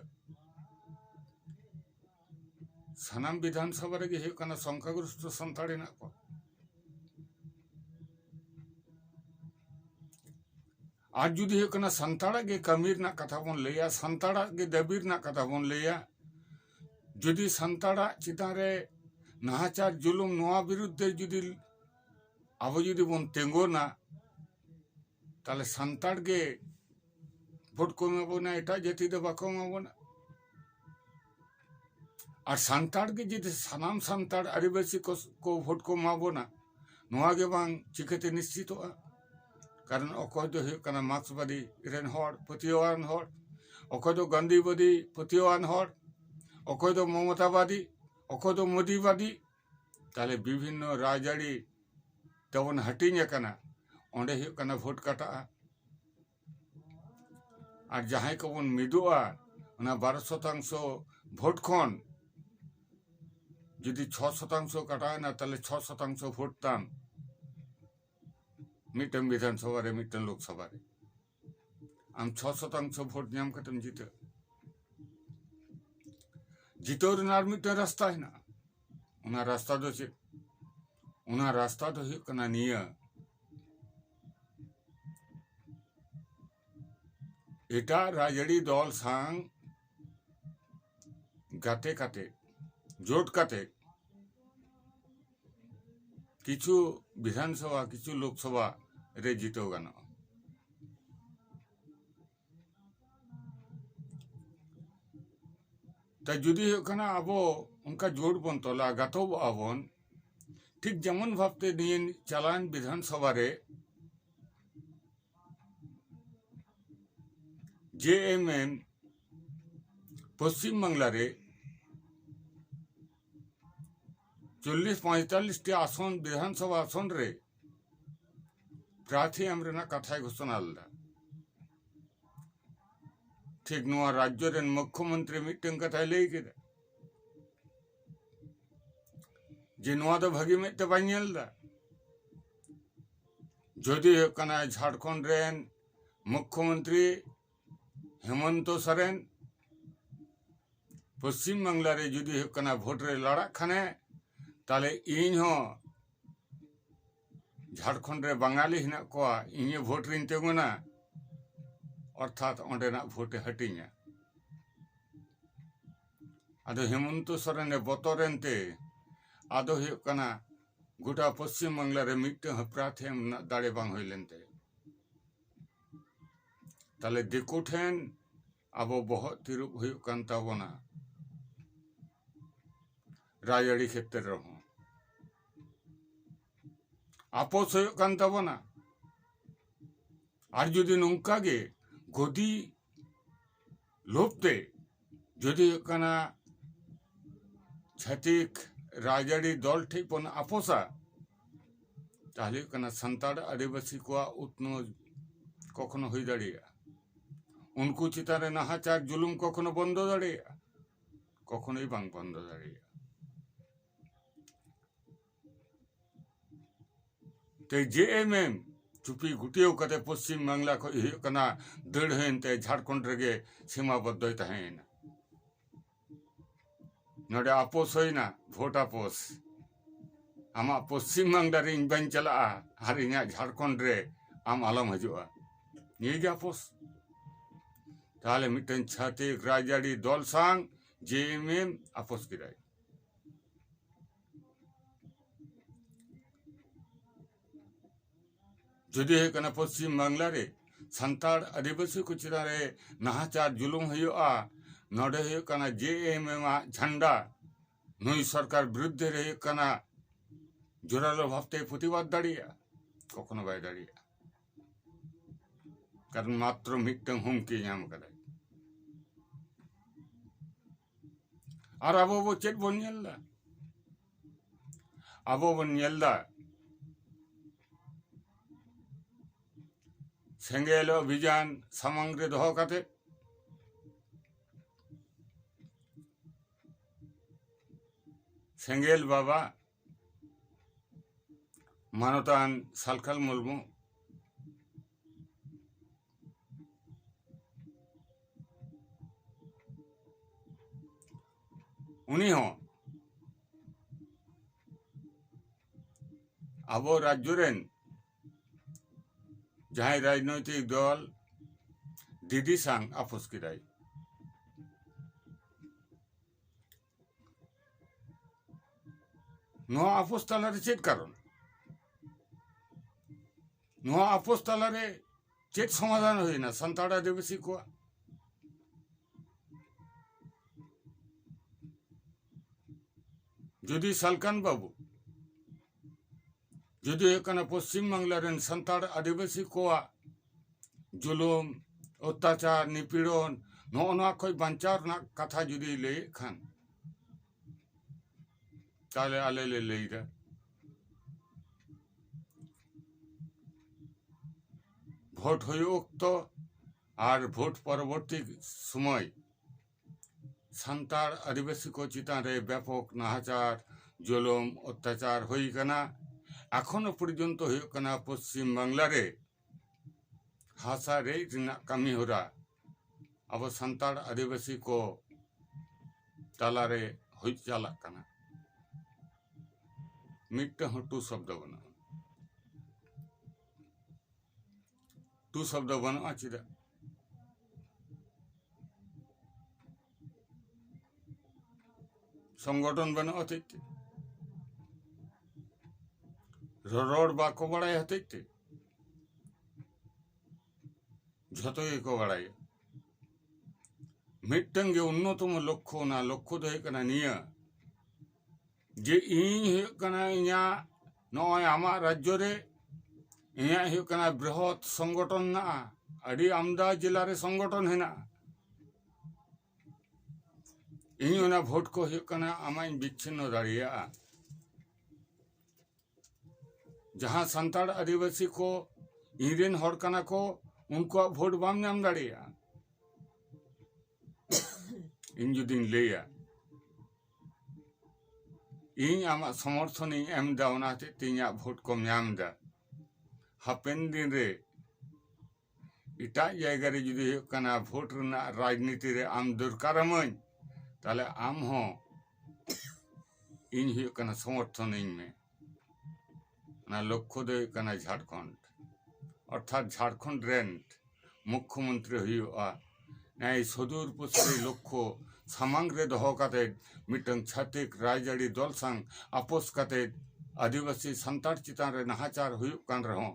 ᱥᱟᱱᱟᱢ ᱵᱤᱫᱷᱟᱱ ᱥᱚᱵᱷᱟ ᱨᱮᱜᱮ ᱦᱩᱭᱩᱜ ᱠᱟᱱᱟ ᱥᱚᱝᱠᱷᱟᱜᱨᱚᱥᱛᱚ ᱥᱟᱱᱛᱟᱲ ᱦᱮᱱᱟᱜ ᱠᱚᱣᱟ ᱟᱨ ᱡᱩᱫᱤ ᱦᱩᱭᱩᱜ ᱠᱟᱱᱟ ᱥᱟᱱᱛᱟᱲᱟᱜ ᱜᱮ ᱠᱟᱹᱢᱤ ᱨᱮᱱᱟᱜ ᱠᱟᱛᱷᱟ ᱵᱚᱱ ᱞᱟᱹᱭᱟ ᱥᱟᱱᱛᱟᱲᱟᱜ ᱜᱮ ᱫᱟᱹᱵᱤ ᱨᱮᱱᱟᱜ ᱠᱟᱛᱷᱟ ᱵᱚᱱ ᱞᱟᱹᱭᱟ ᱡᱩᱫᱤ ᱥᱟᱱᱛᱟᱲᱟᱜ ᱪᱮᱛᱟᱱ ᱨᱮ ᱱᱟᱦᱟᱪᱟᱨ ᱡᱩᱞᱩᱢ ᱱᱚᱣᱟ ᱵᱤᱨᱩᱫᱽ ᱛᱮ ᱡᱩᱫᱤ ᱟᱵᱚ ᱡᱩᱫᱤ ᱵᱚᱱ ᱛᱤᱸᱜᱩᱱᱟ ᱛᱟᱦᱞᱮ ᱥᱟᱱᱛᱟᱲ ᱜᱮ ᱵᱷᱳᱴ ᱠᱚ ᱮᱢᱟ ᱵᱚᱱᱟ ᱮᱴᱟᱜ ᱡᱟᱹᱛᱤ ᱫᱚ ᱵᱟᱠᱚ ᱮᱢᱟ ᱵᱚᱱᱟ ᱟᱨ ᱥᱟᱱᱛᱟᱲ ᱜᱮ ᱡᱩᱫᱤ ᱥᱟᱱᱟᱢ ᱥᱟᱱᱛᱟᱲ ᱟᱹᱫᱤᱵᱟᱹᱥᱤ ᱠᱚ ᱵᱷᱳᱴ ᱠᱚ ᱮᱢᱟ ᱵᱚᱱᱟ ᱱᱚᱣᱟ ᱜᱮ ᱵᱟᱝ ᱪᱤᱠᱟᱹᱛᱮ ᱱᱤᱥᱪᱤᱛᱚᱜᱼᱟ ᱠᱟᱨᱚᱱ ᱚᱠᱚᱭ ᱫᱚᱭ ᱦᱩᱭᱩᱜ ᱠᱟᱱᱟ ᱢᱟᱨᱠᱥᱵᱟᱫᱤ ᱨᱮᱱ ᱦᱚᱲ ᱯᱟᱹᱛᱭᱟᱹᱣᱟᱱ ᱦᱚᱲ ᱚᱠᱚᱭ ᱫᱚ ᱜᱟᱱᱫᱷᱤᱵᱟᱫᱤ ᱯᱟᱹᱛᱭᱟᱹᱣᱟᱱ ᱦᱚᱲ ᱚᱠᱚᱭ ᱫᱚ ᱢᱚᱢᱚᱛᱟᱵᱟᱫᱤ ᱚᱠᱚᱭ ᱫᱚ ᱢᱳᱫᱤᱵᱟᱫᱤ ᱛᱟᱦᱞᱮ ᱵᱤᱵᱷᱤᱱᱱᱚ ᱨᱟᱡᱽᱟᱹᱨᱤ ᱛᱮᱵᱚᱱ ᱦᱟᱹᱴᱤᱧ ᱟᱠᱟᱱᱟ ᱚᱸᱰᱮ ᱦᱩᱭᱩᱜ ᱠᱟᱱᱟ ᱵᱷᱳᱴ ᱠᱟᱴᱟᱜᱼᱟ ᱟᱨ ᱡᱟᱦᱟᱸᱭ ᱠᱚᱵᱚᱱ ᱢᱤᱫᱚᱜᱼᱟ ᱚᱱᱟ ᱵᱟᱨᱚ ᱥᱚᱛᱟᱝᱥᱚ ᱵᱷᱳᱴ ᱠᱷᱚᱱ ᱡᱩᱫᱤ ᱪᱷᱚ ᱥᱚᱛᱟᱝᱥᱚ ᱠᱟᱴᱟᱣᱮᱱᱟ ᱛᱟᱦᱞᱮ ᱪᱷᱚ ᱥᱚᱛᱟᱝᱥᱚ ᱵᱷᱳᱴ ᱛᱟᱢ ᱢᱤᱫᱴᱟᱝ ᱵᱤᱫᱷᱟᱱ ᱥᱚᱵᱷᱟ ᱨᱮ ᱢᱤᱫᱴᱟᱝ ᱞᱳᱠ ᱥᱚᱵᱷᱟ ᱨᱮ ᱟᱢ ᱪᱷᱚ ᱥᱚᱛᱟᱝᱥᱚ ᱵᱷᱳᱴ ᱧᱟᱢ ᱠᱟᱛᱮᱢ ᱡᱤᱛᱟᱹᱜᱼᱟ ᱡᱤᱛᱟᱹᱣ ᱨᱮᱱᱟᱜ ᱟᱨ ᱢᱤᱫᱴᱟᱝ ᱨᱟᱥᱛᱟ ᱦᱮᱱᱟᱜᱼᱟ ᱚᱱᱟ ᱨᱟᱥᱛᱟ ᱫᱚ ᱪᱮᱫ ᱚᱱᱟ ᱨᱟᱥᱛᱟ ᱫᱚ ᱦᱩᱭᱩᱜ ᱠᱟᱱᱟ ᱱᱤᱭᱟᱹ ᱮᱴᱟᱜ ᱨᱟᱡᱽᱟᱹᱨᱤ ᱫᱚᱞ ᱥᱟᱝ ᱜᱟᱛᱮ ᱠᱟᱛᱮ ᱡᱳᱴ ᱠᱟᱛᱮ ᱠᱤᱪᱷᱩ ᱵᱤᱫᱷᱟᱱᱥᱚᱵᱷᱟ ᱠᱤᱪᱷᱩ ᱞᱳᱠᱥᱚᱵᱷᱟ ᱨᱮ ᱡᱤᱛᱟᱹᱣ ᱜᱟᱱᱚᱜᱼᱟ ᱛᱚ ᱡᱩᱫᱤ ᱦᱩᱭᱩᱜ ᱠᱟᱱᱟ ᱟᱵᱚ ᱚᱱᱠᱟ ᱡᱳᱴ ᱵᱚᱱ ᱛᱚᱞᱟ ᱜᱟᱛᱚᱜᱚᱜᱼᱟ ᱵᱚᱱ ᱴᱷᱤᱠ ᱡᱮᱢᱚᱱ ᱵᱷᱟᱵ ᱛᱮ ᱱᱤᱭᱟᱹ ᱪᱟᱞᱟᱣᱮᱱ ᱵᱤᱫᱷᱟᱱ ᱥᱚᱵᱷᱟ ᱨᱮ ᱡᱮ ᱮᱢ ᱮᱢ ᱯᱚᱥᱪᱤᱢ ᱵᱟᱝᱞᱟ ᱨᱮ ᱪᱚᱞᱞᱤᱥ ᱯᱚᱸᱭᱛᱟᱞᱞᱤᱥ ᱴᱤ ᱟᱥᱚᱱ ᱵᱤᱫᱷᱟᱱ ᱥᱚᱵᱷᱟ ᱟᱥᱚᱱ ᱨᱮ ᱯᱨᱟᱨᱛᱷᱤ ᱮᱢ ᱨᱮᱱᱟᱜ ᱠᱟᱛᱷᱟᱭ ᱜᱷᱳᱥᱚᱱᱟ ᱞᱮᱫᱟ ᱴᱷᱤᱠ ᱱᱚᱣᱟ ᱨᱟᱡᱽᱡᱚ ᱨᱮᱱ ᱢᱩᱠᱷᱭᱚᱢᱚᱱᱛᱨᱤ ᱢᱤᱫᱴᱟᱝ ᱠᱟᱛᱷᱟᱭ ᱞᱟᱹᱭ ᱠᱮᱫᱟ ᱡᱮ ᱱᱚᱣᱟ ᱫᱚ ᱵᱷᱟᱹᱜᱤ ᱢᱮᱫ ᱛᱮ ᱵᱟᱹᱧ ᱧᱮᱞ ᱮᱫᱟ ᱡᱚᱫᱤ ᱦᱩᱭᱩᱜ ᱠᱟᱱᱟ ᱡᱷᱟᱲᱠᱷᱚᱸᱰ ᱨᱮᱱ ᱢᱩᱠᱷᱭᱚᱢᱚᱱᱛᱨᱤ ᱦᱮᱢᱚᱱᱛᱚ ᱥᱚᱨᱮᱱ ᱯᱚᱥᱪᱤᱢ ᱵᱟᱝᱞᱟ ᱨᱮ ᱡᱩᱫᱤ ᱦᱩᱭᱩᱜ ᱠᱟᱱᱟ ᱵᱷᱳᱴ ᱨᱮ ᱞᱟᱲᱟᱜ ᱠᱷᱟᱱᱮ ᱛᱟᱦᱞᱮ ᱤᱧ ᱦᱚᱸ ᱡᱷᱟᱲᱠᱷᱚᱸᱰ ᱨᱮ ᱵᱟᱝᱜᱟᱞᱤ ᱦᱮᱱᱟᱜ ᱠᱚᱣᱟ ᱤᱧ ᱦᱚᱸ ᱵᱷᱳᱴ ᱨᱤᱧ ᱛᱤᱸᱜᱩᱱᱟ ᱚᱨᱛᱷᱟᱛ ᱚᱸᱰᱮᱱᱟᱜ ᱵᱷᱳᱴ ᱮ ᱦᱟᱹᱴᱤᱧᱟ ᱟᱫᱚ ᱦᱮᱢᱚᱱᱛᱚ ᱥᱚᱨᱮᱱ ᱮ ᱵᱚᱛᱚᱨᱮᱱ ᱛᱮ ᱟᱫᱚ ᱦᱩᱭᱩᱜ ᱠᱟᱱᱟ ᱜᱚᱴᱟ ᱯᱚᱥᱪᱤᱢ ᱵᱟᱝᱞᱟ ᱨᱮ ᱢᱤᱫᱴᱟᱝ ᱦᱚᱸ ᱯᱨᱟᱨᱛᱷᱤ ᱮᱢ ᱨᱮᱱᱟᱜ ᱫᱟᱲᱮ ᱵᱟᱝ ᱦᱩᱭ ᱞᱮᱱ ᱛᱟᱭᱟ ᱛᱟᱦᱞᱮ ᱫᱤᱠᱩ ᱴᱷᱮᱱ ᱟᱵᱚ ᱵᱚᱦᱚᱜ ᱛᱤᱨᱩᱵ ᱦᱩᱭᱩᱜ ᱠᱟᱱ ᱛᱟᱵᱚᱱᱟ ᱨᱟᱡᱽᱟᱹᱨᱤ ᱠᱷᱮᱛᱨᱮ ᱨᱮᱦᱚᱸ ᱟᱯᱚᱥ ᱦᱩᱭᱩᱜ ᱠᱟᱱ ᱛᱟᱵᱚᱱᱟ ᱟᱨ ᱡᱩᱫᱤ ᱱᱚᱝᱠᱟ ᱜᱮ ᱜᱚᱫᱤ ᱞᱳᱵᱽ ᱛᱮ ᱡᱩᱫᱤ ᱦᱩᱭᱩᱜ ᱠᱟᱱᱟ ᱪᱷᱟᱹᱛᱤᱠ ᱨᱟᱡᱽᱟᱹᱨᱤ ᱫᱚᱞ ᱴᱷᱮᱱ ᱵᱚᱱ ᱟᱯᱚᱥᱟ ᱛᱟᱦᱚᱞᱮ ᱦᱩᱭᱩᱜ ᱠᱟᱱᱟ ᱥᱟᱱᱛᱟᱲ ᱟᱹᱫᱤᱵᱟᱹᱥᱤ ᱠᱚᱣᱟᱜ ᱩᱛᱱᱟᱹᱣ ᱠᱚᱠᱷᱚᱱᱚ ᱦᱩᱭ ᱫᱟᱲᱮᱭᱟᱜᱼᱟ ᱩᱱᱠᱩ ᱪᱮᱛᱟᱱ ᱨᱮ ᱱᱟᱦᱟᱪᱟᱨ ᱡᱩᱞᱩᱢ ᱠᱚᱠᱷᱚᱱᱚ ᱵᱚᱱᱫᱚ ᱫᱟᱲᱮᱭᱟᱜᱼᱟ ᱠᱚᱠᱷᱚᱱᱚᱭ ᱵᱟᱝ ᱵᱚᱱᱫᱚ ᱫᱟᱲᱮᱭᱟᱜᱼᱟ ᱛᱮ ᱡᱮ ᱮᱢ ᱮᱢ ᱪᱩᱯᱤ ᱜᱩᱴᱭᱟᱹᱣ ᱠᱟᱛᱮ ᱯᱚᱥᱪᱤᱢ ᱵᱟᱝᱞᱟ ᱠᱷᱚᱱ ᱦᱩᱭᱩᱜ ᱠᱟᱱᱟ ᱫᱟᱹᱲ ᱦᱩᱭᱮᱱ ᱛᱮ ᱡᱷᱟᱲᱠᱷᱚᱸᱰ ᱨᱮᱜᱮ ᱥᱤᱢᱟ ᱵᱚᱫᱽᱫᱷᱚᱭ ᱛᱟᱦᱮᱸᱭᱮᱱᱟ ᱱᱚᱰᱮ ᱟᱯᱳᱥ ᱦᱩᱭᱮᱱᱟ ᱵᱷᱳᱴ ᱟᱯᱳᱥ ᱟᱢᱟᱜ ᱯᱚᱥᱪᱤᱢ ᱵᱟᱝᱞᱟ ᱨᱮ ᱤᱧ ᱵᱟᱹᱧ ᱪᱟᱞᱟᱜᱼᱟ ᱟᱨ ᱤᱧᱟᱹᱜ ᱡᱷᱟᱲᱠᱷᱚᱸᱰ ᱨᱮ ᱟᱢ ᱟᱞᱚᱢ ᱦᱤᱡᱩᱜᱼᱟ ᱱᱤᱭᱟᱹ ᱜᱮ ᱟᱯᱳᱥ ᱛᱟᱦᱚᱞᱮ ᱢᱤᱫᱴᱮᱱ ᱪᱷᱟᱹᱛᱤᱠ ᱨᱟᱡᱽᱟᱹᱨᱤ ᱫᱚᱞ ᱥᱟᱝ ᱡᱮ ᱮᱢ ᱮᱢ ᱟᱯᱳᱥ ᱠᱮᱫᱟᱭ ᱡᱩᱫᱤ ᱦᱩᱭᱩᱜ ᱠᱟᱱᱟ ᱯᱚᱥᱪᱤᱢ ᱵᱟᱝᱞᱟ ᱨᱮ ᱥᱟᱱᱛᱟᱲ ᱟᱹᱫᱤᱵᱟᱹᱥᱤ ᱠᱚ ᱪᱮᱛᱟᱱ ᱨᱮ ᱱᱟᱦᱟᱪᱟᱨ ᱡᱩᱞᱩᱢ ᱦᱩᱭᱩᱜᱼᱟ ᱱᱚᱸᱰᱮ ᱦᱩᱭᱩᱜ ᱠᱟᱱᱟ ᱡᱮ ᱮᱢ ᱮᱢ ᱟᱜ ᱡᱷᱟᱱᱰᱟ ᱱᱩᱭ ᱥᱚᱨᱠᱟᱨ ᱵᱤᱨᱩᱫᱽᱫᱷᱮ ᱨᱮ ᱦᱩᱭᱩᱜ ᱠᱟᱱᱟ ᱡᱳᱨᱟᱞᱳ ᱵᱷᱟᱵᱽᱛᱮ ᱯᱨᱚᱛᱤᱵᱟᱫᱽ ᱫᱟᱲᱮᱭᱟᱜᱼᱟ ᱠᱚᱠᱷᱚᱱᱳ ᱵᱟᱭ ᱫᱟᱲᱮᱭᱟᱜᱼᱟ ᱠᱟᱨᱚᱱ ᱢᱟᱛᱨᱚ ᱢᱤᱫᱴᱟᱝ ᱦᱩᱢᱠᱤ ᱧᱟᱢ ᱟᱠᱟᱫᱟᱭ ᱟᱨ ᱟᱵᱚ ᱵᱚ ᱪᱮᱫ ᱵᱚᱱ ᱧᱮᱞ ᱮᱫᱟ ᱟᱵᱚ ᱵᱚᱱ ᱧᱮᱞ ᱮᱫᱟ ᱥᱮᱸᱜᱮᱞ ᱚᱵᱷᱤᱡᱟᱱ ᱥᱟᱢᱟᱝ ᱨᱮ ᱫᱚᱦᱚ ᱠᱟᱛᱮ ᱥᱮᱸᱜᱮᱞ ᱵᱟᱵᱟ ᱢᱟᱱᱚᱛᱟᱱ ᱥᱟᱞᱠᱷᱟᱞ ᱢᱩᱨᱢᱩ ᱩᱱᱤ ᱦᱚᱸ ᱟᱵᱚ ᱨᱟᱡᱽᱡᱚ ᱨᱮᱱ ᱡᱟᱦᱟᱸᱭ ᱨᱟᱡᱽᱱᱳᱭᱛᱤᱠ ᱫᱚᱞ ᱰᱤᱰᱤ ᱥᱟᱝ ᱟᱯᱳᱥ ᱠᱮᱫᱟᱭ ᱱᱚᱣᱟ ᱟᱯᱳᱥ ᱛᱟᱞᱟᱨᱮ ᱪᱮᱫ ᱠᱟᱨᱚᱱ ᱱᱚᱣᱟ ᱟᱯᱳᱥ ᱛᱟᱞᱟᱨᱮ ᱪᱮᱫ ᱥᱚᱢᱟᱫᱷᱟᱱ ᱦᱩᱭᱱᱟ ᱥᱟᱱᱛᱟᱲ ᱟᱹᱫᱤᱵᱟᱹᱥᱤ ᱠᱚᱣᱟᱜ ᱡᱩᱫᱤ ᱥᱟᱞᱠᱟᱱ ᱵᱟᱹᱵᱩ ᱡᱩᱫᱤ ᱦᱩᱭᱩᱜ ᱠᱟᱱᱟ ᱯᱚᱥᱪᱤᱢ ᱵᱟᱝᱞᱟ ᱨᱮᱱ ᱥᱟᱱᱛᱟᱲ ᱟᱹᱫᱤᱵᱟᱹᱥᱤ ᱠᱚᱣᱟᱜ ᱡᱩᱞᱩᱢ ᱚᱛᱛᱟᱪᱟᱨ ᱱᱤᱯᱤᱲᱚᱱ ᱱᱚᱜᱼᱚ ᱱᱚᱣᱟ ᱠᱷᱚᱱ ᱵᱟᱧᱪᱟᱣ ᱨᱮᱱᱟᱜ ᱠᱟᱛᱷᱟ ᱡᱩᱫᱤ ᱞᱟᱹᱭᱮᱫ ᱠᱷᱟᱱ ᱛᱟᱦᱚᱞᱮ ᱟᱞᱮ ᱞᱮ ᱞᱟᱹᱭᱫᱟ ᱵᱷᱳᱴ ᱦᱩᱭᱩᱜ ᱚᱠᱛᱚ ᱟᱨ ᱵᱷᱳᱴ ᱯᱚᱨᱚᱵᱚᱨᱛᱤ ᱥᱚᱢᱚᱭ ᱥᱟᱱᱛᱟᱲ ᱟᱹᱫᱤᱵᱟᱹᱥᱤ ᱠᱚ ᱪᱮᱛᱟᱱ ᱨᱮ ᱵᱮᱯᱚᱠ ᱱᱟᱦᱟᱪᱟᱨ ᱡᱩᱞᱩᱢ ᱚᱛᱛᱟᱪᱟᱨ ᱦᱩᱭ ᱟᱠᱟᱱᱟ ᱮᱠᱷᱚᱱᱳ ᱯᱚᱨᱡᱚᱱᱛᱚ ᱦᱩᱭᱩᱜ ᱠᱟᱱᱟ ᱯᱚᱥᱪᱤᱢ ᱵᱟᱝᱞᱟ ᱨᱮ ᱦᱟᱥᱟ ᱨᱮᱡ ᱨᱮᱱᱟᱜ ᱠᱟᱹᱢᱤ ᱦᱚᱨᱟ ᱟᱵᱚ ᱥᱟᱱᱛᱟᱲ ᱟᱹᱫᱤᱵᱟᱹᱥᱤ ᱠᱚ ᱛᱟᱞᱟ ᱨᱮ ᱦᱩᱭ ᱪᱟᱞᱟᱜ ᱠᱟᱱᱟ ᱢᱤᱫᱴᱟᱝ ᱦᱚᱸ ᱴᱩ ᱥᱚᱵᱫᱚ ᱵᱟᱹᱱᱩᱜᱼᱟ ᱴᱩ ᱥᱚᱵᱫᱚ ᱵᱟᱹᱱᱩᱜᱼᱟ ᱪᱮᱫᱟᱜ ᱥᱚᱝᱜᱚᱴᱷᱚᱱ ᱵᱟᱹᱱᱩᱜ ᱦᱚᱛᱮᱡ ᱛᱮ ᱨᱚᱲ ᱵᱟᱠᱚ ᱵᱟᱲᱟᱭ ᱦᱚᱛᱮᱡ ᱛᱮ ᱡᱷᱚᱛᱚ ᱜᱮᱠᱚ ᱵᱟᱲᱟᱭᱟ ᱢᱤᱫᱴᱟᱝ ᱜᱮ ᱚᱱᱱᱚᱛᱚᱢᱚ ᱞᱚᱠᱠᱷᱚ ᱚᱱᱟ ᱞᱚᱠᱠᱷᱚ ᱫᱚ ᱦᱩᱭᱩᱜ ᱠᱟᱱᱟ ᱱᱤᱭᱟᱹ ᱡᱮ ᱤᱧ ᱦᱩᱭᱩᱜ ᱠᱟᱱᱟ ᱤᱧᱟᱹᱜ ᱱᱚᱜᱼᱚᱭ ᱟᱢᱟᱜ ᱨᱟᱡᱽᱡᱚ ᱨᱮ ᱤᱧᱟᱹᱜ ᱦᱩᱭᱩᱜ ᱠᱟᱱᱟ ᱵᱨᱤᱦᱚᱛ ᱥᱚᱝᱜᱚᱴᱷᱚᱱ ᱢᱮᱱᱟᱜᱼᱟ ᱟᱹᱰᱤ ᱟᱢᱫᱟ ᱡᱮᱞᱟ ᱨᱮ ᱥᱚᱝᱜᱚᱴᱷᱚᱱ ᱦᱮᱱᱟᱜᱼᱟ ᱤᱧ ᱚᱱᱟ ᱵᱷᱳᱴ ᱠᱚ ᱦᱩᱭᱩᱜ ᱠᱟᱱᱟ ᱟᱢᱟᱜ ᱤᱧ ᱵᱤᱪᱪᱷᱤᱱᱱᱚ ᱫᱟᱲᱮᱭᱟᱜᱼᱟ ᱡᱟᱦᱟᱸ ᱥᱟᱱᱛᱟᱲ ᱟᱹᱫᱤᱵᱟᱹᱥᱤ ᱠᱚ ᱤᱧ ᱨᱮᱱ ᱦᱚᱲ ᱠᱟᱱᱟ ᱠᱚ ᱩᱱᱠᱩᱣᱟᱜ ᱵᱷᱳᱴ ᱵᱟᱢ ᱧᱟᱢ ᱫᱟᱲᱮᱭᱟᱜᱼᱟ ᱤᱧ ᱡᱩᱫᱤᱧ ᱞᱟᱹᱭᱟ ᱤᱧ ᱟᱢᱟᱜ ᱥᱚᱢᱚᱨᱛᱷᱚᱱᱤᱧ ᱮᱢ ᱮᱫᱟ ᱚᱱᱟ ᱦᱚᱛᱮᱡ ᱛᱮ ᱤᱧᱟᱹᱜ ᱵᱷᱳᱴ ᱠᱚᱢ ᱧᱟᱢ ᱮᱫᱟ ᱦᱟᱯᱮᱱ ᱫᱤᱱ ᱨᱮ ᱮᱴᱟᱜ ᱡᱟᱭᱜᱟ ᱨᱮ ᱡᱩᱫᱤ ᱦᱩᱭᱩᱜ ᱠᱟᱱᱟ ᱵᱷᱳᱴ ᱨᱮᱱᱟᱜ ᱨᱟᱡᱽᱱᱤᱛᱤ ᱨᱮ ᱟᱢ ᱫᱚᱨᱠᱟᱨᱟᱢᱟᱹᱧ ᱛᱟᱦᱚᱞᱮ ᱟᱢ ᱦᱚᱸ ᱤᱧ ᱦᱩᱭᱩᱜ ᱠᱟᱱᱟ ᱥᱚᱢᱚᱨᱛᱷᱚᱱᱟᱹᱧ ᱢᱮ ᱚᱱᱟ ᱞᱚᱠᱠᱷᱚ ᱫᱚ ᱦᱩᱭᱩᱜ ᱠᱟᱱᱟ ᱡᱷᱟᱲᱠᱷᱚᱸᱰ ᱚᱨᱛᱷᱟᱛ ᱡᱷᱟᱲᱠᱷᱚᱸᱰ ᱨᱮᱱ ᱢᱩᱠᱠᱷᱚ ᱢᱚᱱᱛᱨᱤ ᱦᱩᱭᱩᱜᱼᱟ ᱱᱮᱭ ᱥᱚᱫᱩᱨ ᱯᱚᱥᱨᱤ ᱞᱚᱠᱠᱷᱚ ᱥᱟᱢᱟᱝ ᱨᱮ ᱫᱚᱦᱚ ᱠᱟᱛᱮ ᱢᱤᱫᱴᱟᱝ ᱪᱷᱟᱹᱛᱤᱠ ᱨᱟᱡᱽᱟᱹᱨᱤ ᱫᱚᱞ ᱥᱟᱝ ᱟᱯᱳᱥ ᱠᱟᱛᱮ ᱟᱹᱫᱤᱵᱟᱹᱥᱤ ᱥᱟᱱᱛᱟᱲ ᱪᱮᱛᱟᱱ ᱨᱮ ᱱᱟᱦᱟᱪᱟᱨ ᱦᱩᱭᱩᱜ ᱠᱟᱱ ᱨᱮᱦᱚᱸ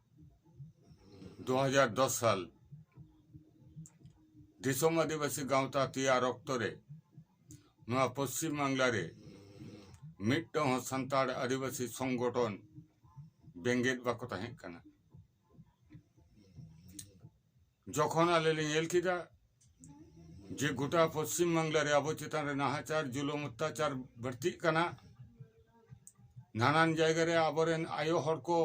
ᱫᱩ ᱦᱟᱡᱟᱨ ᱫᱚᱥ ᱥᱟᱞ ᱫᱤᱥᱚᱢ ᱟᱹᱫᱤᱵᱟᱹᱥᱤ ᱜᱟᱶᱛᱟ ᱛᱮᱭᱟᱨ ᱚᱠᱛᱚ ᱨᱮ ᱱᱚᱣᱟ ᱯᱚᱥᱪᱤᱢ ᱵᱟᱝᱞᱟ ᱨᱮ ᱢᱤᱫᱴᱟᱝ ᱦᱚᱸ ᱥᱟᱱᱛᱟᱲ ᱟᱹᱫᱤᱵᱟᱹᱥᱤ ᱥᱚᱝᱜᱚᱴᱷᱚᱱ ᱵᱮᱸᱜᱮᱫ ᱵᱟᱠᱚ ᱛᱟᱦᱮᱸ ᱠᱟᱱᱟ ᱡᱚᱠᱷᱚᱱ ᱟᱞᱮ ᱞᱮ ᱧᱮᱞ ᱠᱮᱫᱟ ᱡᱮ ᱜᱚᱴᱟ ᱯᱚᱥᱪᱤᱢ ᱵᱟᱝᱞᱟ ᱨᱮ ᱟᱵᱚ ᱪᱮᱛᱟᱱ ᱨᱮ ᱱᱟᱦᱟᱪᱟᱨ ᱡᱩᱞᱩᱢ ᱚᱛᱛᱟᱪᱟᱨ ᱵᱟᱹᱲᱛᱤᱜ ᱠᱟᱱᱟ ᱱᱟᱱᱟᱱ ᱡᱟᱭᱜᱟ ᱨᱮ ᱟᱵᱚ ᱨᱮᱱ ᱟᱭᱳ ᱦᱚᱲ ᱠᱚ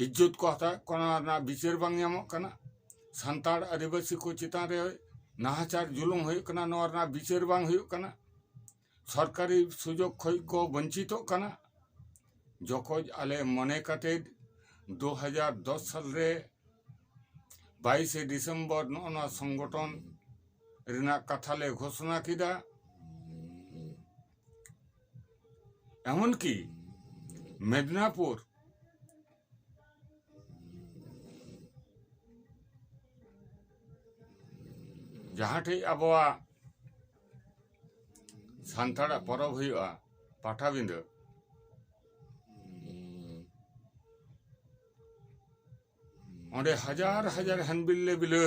ᱤᱡᱽᱡᱚᱛ ᱠᱚ ᱦᱟᱛᱟᱣᱮᱫ ᱠᱚᱣᱟ ᱚᱱᱟ ᱨᱮᱱᱟᱜ ᱵᱤᱪᱟᱹᱨ ᱵᱟᱝ ᱧᱟᱢᱚᱜ ᱠᱟᱱᱟ ᱥᱟᱱᱛᱟᱲ ᱟᱹᱫᱤᱵᱟᱹᱥᱤ ᱠᱚ ᱪᱮᱛᱟᱱ ᱨᱮ ᱱᱟᱦᱟᱪᱟᱨ ᱡᱩᱞᱩᱢ ᱦᱩᱭᱩᱜ ᱠᱟᱱᱟ ᱱᱚᱣᱟ ᱨᱮᱱᱟᱜ ᱵᱤᱪᱟᱹᱨ ᱵᱟᱝ ᱦᱩᱭᱩᱜ ᱠᱟᱱᱟ ᱥᱚᱨᱠᱟᱨᱤ ᱥᱩᱡᱳᱜᱽ ᱠᱷᱚᱱ ᱠᱚ ᱵᱚᱧᱪᱤᱛᱚᱜ ᱠᱟᱱᱟ ᱡᱚᱠᱷᱚᱱ ᱟᱞᱮ ᱢᱚᱱᱮ ᱠᱟᱛᱮ ᱫᱩ ᱦᱟᱡᱟᱨ ᱫᱚᱥ ᱥᱟᱞ ᱨᱮ ᱵᱟᱭᱤᱥᱮ ᱰᱤᱥᱮᱢᱵᱚᱨ ᱱᱚᱜᱼᱚ ᱱᱚᱣᱟ ᱥᱚᱝᱜᱚᱴᱷᱚᱱ ᱨᱮᱱᱟᱜ ᱠᱟᱛᱷᱟ ᱞᱮ ᱜᱷᱳᱥᱚᱱᱟ ᱠᱮᱫᱟ ᱮᱢᱚᱱ ᱠᱤ ᱢᱮᱫᱽᱱᱟᱯᱩᱨ ᱡᱟᱦᱟᱸ ᱴᱷᱮᱱ ᱟᱵᱚᱣᱟᱜ ᱥᱟᱱᱛᱟᱲᱟᱜ ᱯᱚᱨᱚᱵᱽ ᱦᱩᱭᱩᱜᱼᱟ ᱯᱟᱴᱟᱵᱤᱸᱫᱟᱹ ᱚᱸᱰᱮ ᱦᱟᱡᱟᱨ ᱦᱟᱡᱟᱨ ᱦᱟᱱᱵᱤᱞ ᱞᱮ ᱵᱤᱞᱟᱹ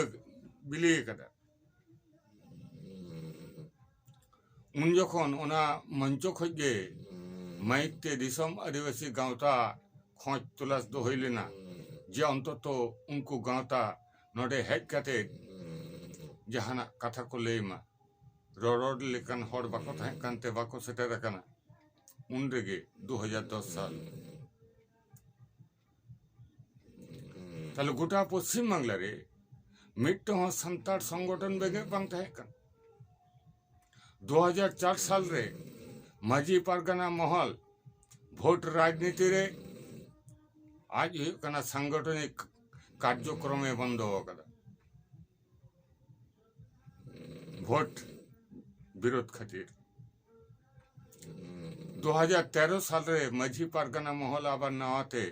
ᱵᱤᱞᱤ ᱟᱠᱟᱫᱟ ᱩᱱ ᱡᱚᱠᱷᱚᱱ ᱚᱱᱟ ᱢᱚᱧᱪᱚ ᱠᱷᱚᱡ ᱜᱮ ᱢᱟᱭᱤᱠ ᱛᱮ ᱫᱤᱥᱚᱢ ᱟᱹᱫᱤᱵᱟᱹᱥᱤ ᱜᱟᱶᱛᱟ ᱠᱷᱚᱡᱽ ᱛᱚᱞᱟᱥ ᱫᱚ ᱦᱩᱭ ᱞᱮᱱᱟ ᱡᱮ ᱚᱱᱛᱚᱛᱚ ᱩᱱᱠᱩ ᱜᱟᱶᱛᱟ ᱱᱚᱸᱰᱮ ᱦᱮᱡ ᱠᱟᱛᱮ ᱡᱟᱦᱟᱱᱟᱜ ᱠᱟᱛᱷᱟ ᱠᱚ ᱞᱟᱹᱭ ᱢᱟ ᱨᱚᱨᱚᱲ ᱞᱮᱠᱟᱱ ᱦᱚᱲ ᱵᱟᱠᱚ ᱛᱟᱦᱮᱸ ᱠᱟᱱ ᱛᱮ ᱵᱟᱠᱚ ᱥᱮᱴᱮᱨ ᱟᱠᱟᱱᱟ ᱩᱱ ᱨᱮᱜᱮ ᱫᱩ ᱦᱟᱡᱟᱨ ᱫᱚᱥ ᱥᱟᱞ ᱛᱟᱦᱞᱮ ᱜᱚᱴᱟ ᱯᱚᱥᱪᱤᱢ ᱵᱟᱝᱞᱟ ᱨᱮ ᱢᱤᱫᱴᱟᱝ ᱦᱚᱸ ᱥᱟᱱᱛᱟᱲ ᱥᱚᱝᱜᱚᱴᱷᱚᱱ ᱵᱮᱸᱜᱮᱫ ᱵᱟᱝ ᱛᱟᱦᱮᱸ ᱠᱟᱱᱟ ᱫᱩ ᱦᱟᱡᱟᱨ ᱪᱟᱨ ᱥᱟᱞ ᱨᱮ ᱢᱟᱹᱡᱷᱤ ᱯᱟᱨᱜᱟᱱᱟ ᱢᱚᱦᱚᱞ ᱵᱷᱳᱴ ᱨᱟᱡᱽᱱᱤᱛᱤ ᱨᱮ ᱟᱡ ᱦᱩᱭᱩᱜ ᱠᱟᱱᱟ ᱥᱟᱝᱜᱚᱴᱷᱚᱱᱤᱠ ᱠᱟᱨᱡᱚᱠᱨᱚᱢᱮ ᱵᱚᱱᱫᱚ ᱟᱠᱟᱫᱟ ᱵᱷᱳᱴ ᱵᱤᱨᱳᱫᱷ ᱠᱷᱟᱹᱛᱤᱨ ᱫᱩ ᱦᱟᱡᱟᱨ ᱛᱮᱨᱚ ᱥᱟᱞ ᱨᱮ ᱢᱟᱹᱡᱷᱤ ᱯᱟᱨᱜᱟᱱᱟ ᱢᱚᱦᱚᱞ ᱟᱵᱟᱨ ᱱᱟᱣᱟ ᱛᱮ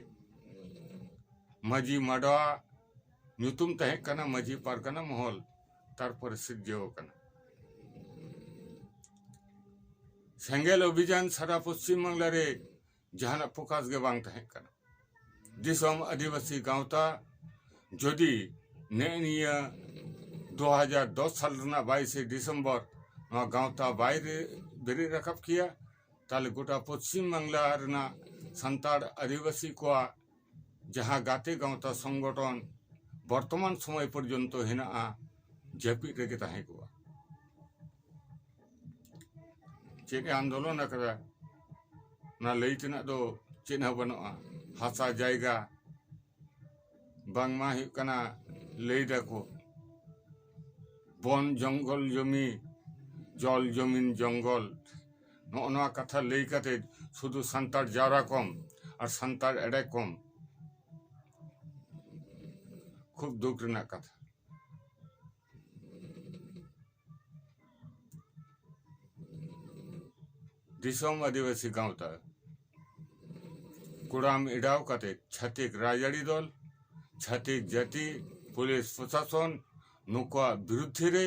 ᱢᱟᱹᱡᱷᱤ ᱢᱟᱰᱣᱟ ᱧᱩᱛᱩᱢ ᱛᱟᱦᱮᱸ ᱠᱟᱱᱟ ᱢᱟᱹᱡᱷᱤ ᱯᱟᱨᱜᱟᱱᱟ ᱢᱚᱦᱚᱞ ᱛᱟᱨᱯᱚᱨᱮ ᱥᱤᱨᱡᱟᱹᱣ ᱟᱠᱟᱱᱟ ᱥᱮᱸᱜᱮᱞ ᱚᱵᱷᱤᱡᱟᱱ ᱥᱟᱨᱟ ᱯᱚᱥᱪᱤᱢ ᱵᱟᱝᱞᱟ ᱨᱮ ᱡᱟᱦᱟᱱᱟᱜ ᱯᱷᱳᱠᱟᱥ ᱜᱮ ᱵᱟᱝ ᱛᱟᱦᱮᱸ ᱠᱟᱱᱟ ᱫᱤᱥᱚᱢ ᱟᱹᱫᱤᱵᱟᱹᱥᱤ ᱜᱟᱶᱛᱟ ᱡᱩᱫᱤ ᱱᱮᱜᱼᱮ ᱱᱤᱭᱟᱹ ᱫᱩ ᱦᱟᱡᱟᱨ ᱫᱚᱥ ᱥᱟᱞ ᱨᱮᱱᱟᱜ ᱵᱟᱭᱤᱥᱮ ᱰᱤᱥᱮᱢᱵᱚᱨ ᱱᱚᱣᱟ ᱜᱟᱶᱛᱟ ᱵᱟᱭ ᱵᱮᱨᱮᱫ ᱨᱟᱠᱟᱵ ᱠᱮᱭᱟ ᱛᱟᱦᱚᱞᱮ ᱜᱚᱴᱟ ᱯᱚᱥᱪᱤᱢ ᱵᱟᱝᱞᱟ ᱨᱮᱱᱟᱜ ᱥᱟᱱᱛᱟᱲ ᱟᱹᱫᱤᱵᱟᱹᱥᱤ ᱠᱚᱣᱟᱜ ᱡᱟᱦᱟᱸ ᱜᱟᱛᱮ ᱜᱟᱶᱛᱟ ᱥᱚᱝᱜᱚᱴᱷᱚᱱ ᱵᱚᱨᱛᱚᱢᱟᱱ ᱥᱚᱢᱚᱭ ᱯᱚᱨᱡᱚᱱᱛᱚ ᱦᱮᱱᱟᱜᱼᱟ ᱡᱟᱹᱯᱤᱫ ᱨᱮᱜᱮ ᱛᱟᱦᱮᱸ ᱠᱚᱜᱼᱟ ᱪᱮᱫ ᱮ ᱟᱱᱫᱳᱞᱚᱱ ᱟᱠᱟᱫᱟ ᱚᱱᱟ ᱞᱟᱹᱭ ᱛᱮᱱᱟᱜ ᱫᱚ ᱪᱮᱫ ᱦᱚᱸ ᱵᱟᱹᱱᱩᱜᱼᱟ ᱦᱟᱥᱟ ᱡᱟᱭᱜᱟ ᱵᱟᱝᱢᱟ ᱦᱩᱭᱩᱜ ᱠᱟᱱᱟ ᱞᱟᱹᱭ ᱫᱟᱠᱚ ᱵᱚᱱ ᱡᱚᱝᱜᱚᱞ ᱡᱚᱢᱤ ᱡᱚᱞ ᱡᱚᱢᱤᱱ ᱡᱚᱝᱜᱚᱞ ᱱᱚᱜᱼᱚ ᱱᱚᱣᱟ ᱠᱟᱛᱷᱟ ᱞᱟᱹᱭ ᱠᱟᱛᱮ ᱥᱩᱫᱷᱩ ᱥᱟᱱᱛᱟᱲ ᱡᱟᱣᱨᱟ ᱠᱚᱢ ᱟᱨ ᱥᱟᱱᱛᱟᱲ ᱮᱲᱮ ᱠᱚᱢ ᱠᱷᱩᱵ ᱫᱩᱠ ᱨᱮᱱᱟᱜ ᱠᱟᱛᱷᱟ ᱫᱤᱥᱚᱢ ᱟᱹᱫᱤᱵᱟᱹᱥᱤ ᱜᱟᱶᱛᱟ ᱠᱩᱲᱟᱢ ᱮᱰᱟᱣ ᱠᱟᱛᱮ ᱪᱷᱟᱹᱛᱤᱠ ᱨᱟᱡᱽᱟᱹᱨᱤ ᱫᱚᱞ ᱪᱷᱟᱹᱛᱤᱠ ᱡᱟᱹᱛᱤ ᱯᱩᱞᱤᱥ ᱯᱨᱚᱥᱟᱥᱚᱱ ᱱᱩᱠᱩᱣᱟᱜ ᱵᱤᱨᱩᱫᱽᱫᱷᱮ ᱨᱮ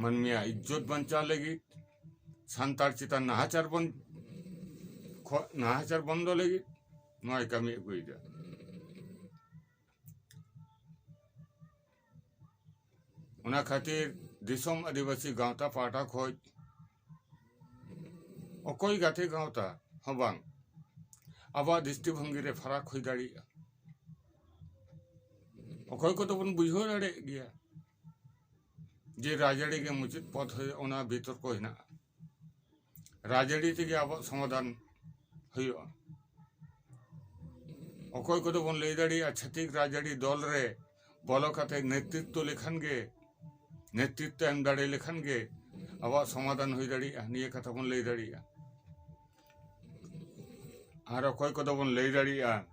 ᱢᱟᱹᱱᱢᱤᱭᱟᱜ ᱤᱡᱽᱡᱚᱛ ᱵᱟᱧᱪᱟᱣ ᱞᱟᱹᱜᱤᱫ ᱥᱟᱱᱛᱟᱲ ᱪᱮᱛᱟᱱ ᱱᱟᱦᱟᱪᱟᱨ ᱵᱚᱱ ᱠᱷᱚᱱ ᱱᱟᱦᱟᱪᱟᱨ ᱵᱚᱱᱫᱚ ᱞᱟᱹᱜᱤᱫ ᱱᱚᱣᱟᱭ ᱠᱟᱹᱢᱤ ᱟᱹᱜᱩᱭᱮᱫᱟ ᱚᱱᱟ ᱠᱷᱟᱹᱛᱤᱨ ᱫᱤᱥᱚᱢ ᱟᱹᱫᱤᱵᱟᱹᱥᱤ ᱜᱟᱶᱛᱟ ᱯᱟᱦᱴᱟ ᱠᱷᱚᱱ ᱚᱠᱚᱭ ᱜᱟᱛᱮ ᱜᱟᱶᱛᱟ ᱦᱚᱸ ᱵᱟᱝ ᱟᱵᱚᱣᱟᱜ ᱫᱨᱤᱥᱴᱤ ᱵᱷᱚᱝᱜᱤ ᱨᱮ ᱯᱷᱟᱨᱟᱠ ᱦᱩᱭ ᱫᱟᱲᱮᱭᱟᱜᱼᱟ ᱚᱠᱚᱭ ᱠᱚᱫᱚ ᱵᱚᱱ ᱵᱩᱡᱷᱟᱹᱣ ᱫᱟᱲᱮᱭᱟᱜ ᱜᱮᱭᱟ ᱡᱮ ᱨᱟᱡᱽᱟᱹᱨᱤ ᱜᱮ ᱢᱩᱪᱟᱹᱫ ᱯᱚᱫᱽ ᱦᱩᱭᱩᱜᱼᱟ ᱚᱱᱟ ᱵᱤᱛᱚᱨᱠᱚ ᱦᱮᱱᱟᱜᱼᱟ ᱨᱟᱡᱽᱟᱹᱨᱤ ᱛᱮᱜᱮ ᱟᱵᱚᱣᱟᱜ ᱥᱚᱢᱟᱫᱷᱟᱱ ᱦᱩᱭᱩᱜᱼᱟ ᱚᱠᱚᱭ ᱠᱚᱫᱚ ᱵᱚᱱ ᱞᱟᱹᱭ ᱫᱟᱲᱮᱭᱟᱜᱼᱟ ᱪᱷᱟᱹᱛᱤᱠ ᱨᱟᱡᱽᱟᱹᱨᱤ ᱫᱚᱞ ᱨᱮ ᱵᱚᱞᱚ ᱠᱟᱛᱮ ᱱᱮᱛᱨᱤᱛᱛᱚ ᱞᱮᱠᱷᱟᱱ ᱜᱮ ᱱᱮᱛᱨᱤᱛᱛᱚ ᱮᱢ ᱫᱟᱲᱮ ᱞᱮᱠᱷᱟᱱ ᱜᱮ ᱟᱵᱚᱣᱟᱜ ᱥᱚᱢᱟᱫᱷᱟᱱ ᱦᱩᱭ ᱫᱟᱲᱮᱭᱟᱜᱼᱟ ᱱᱤᱭᱟᱹ ᱠᱟᱛᱷᱟ ᱵᱚᱱ ᱞᱟᱹᱭ ᱫᱟᱲᱮᱭᱟᱜᱼᱟ ᱟᱨ ᱚᱠᱚᱭ ᱠᱚᱫᱚ ᱵᱚᱱ ᱞᱟᱹᱭ ᱫᱟᱲᱮᱭᱟᱜᱼᱟ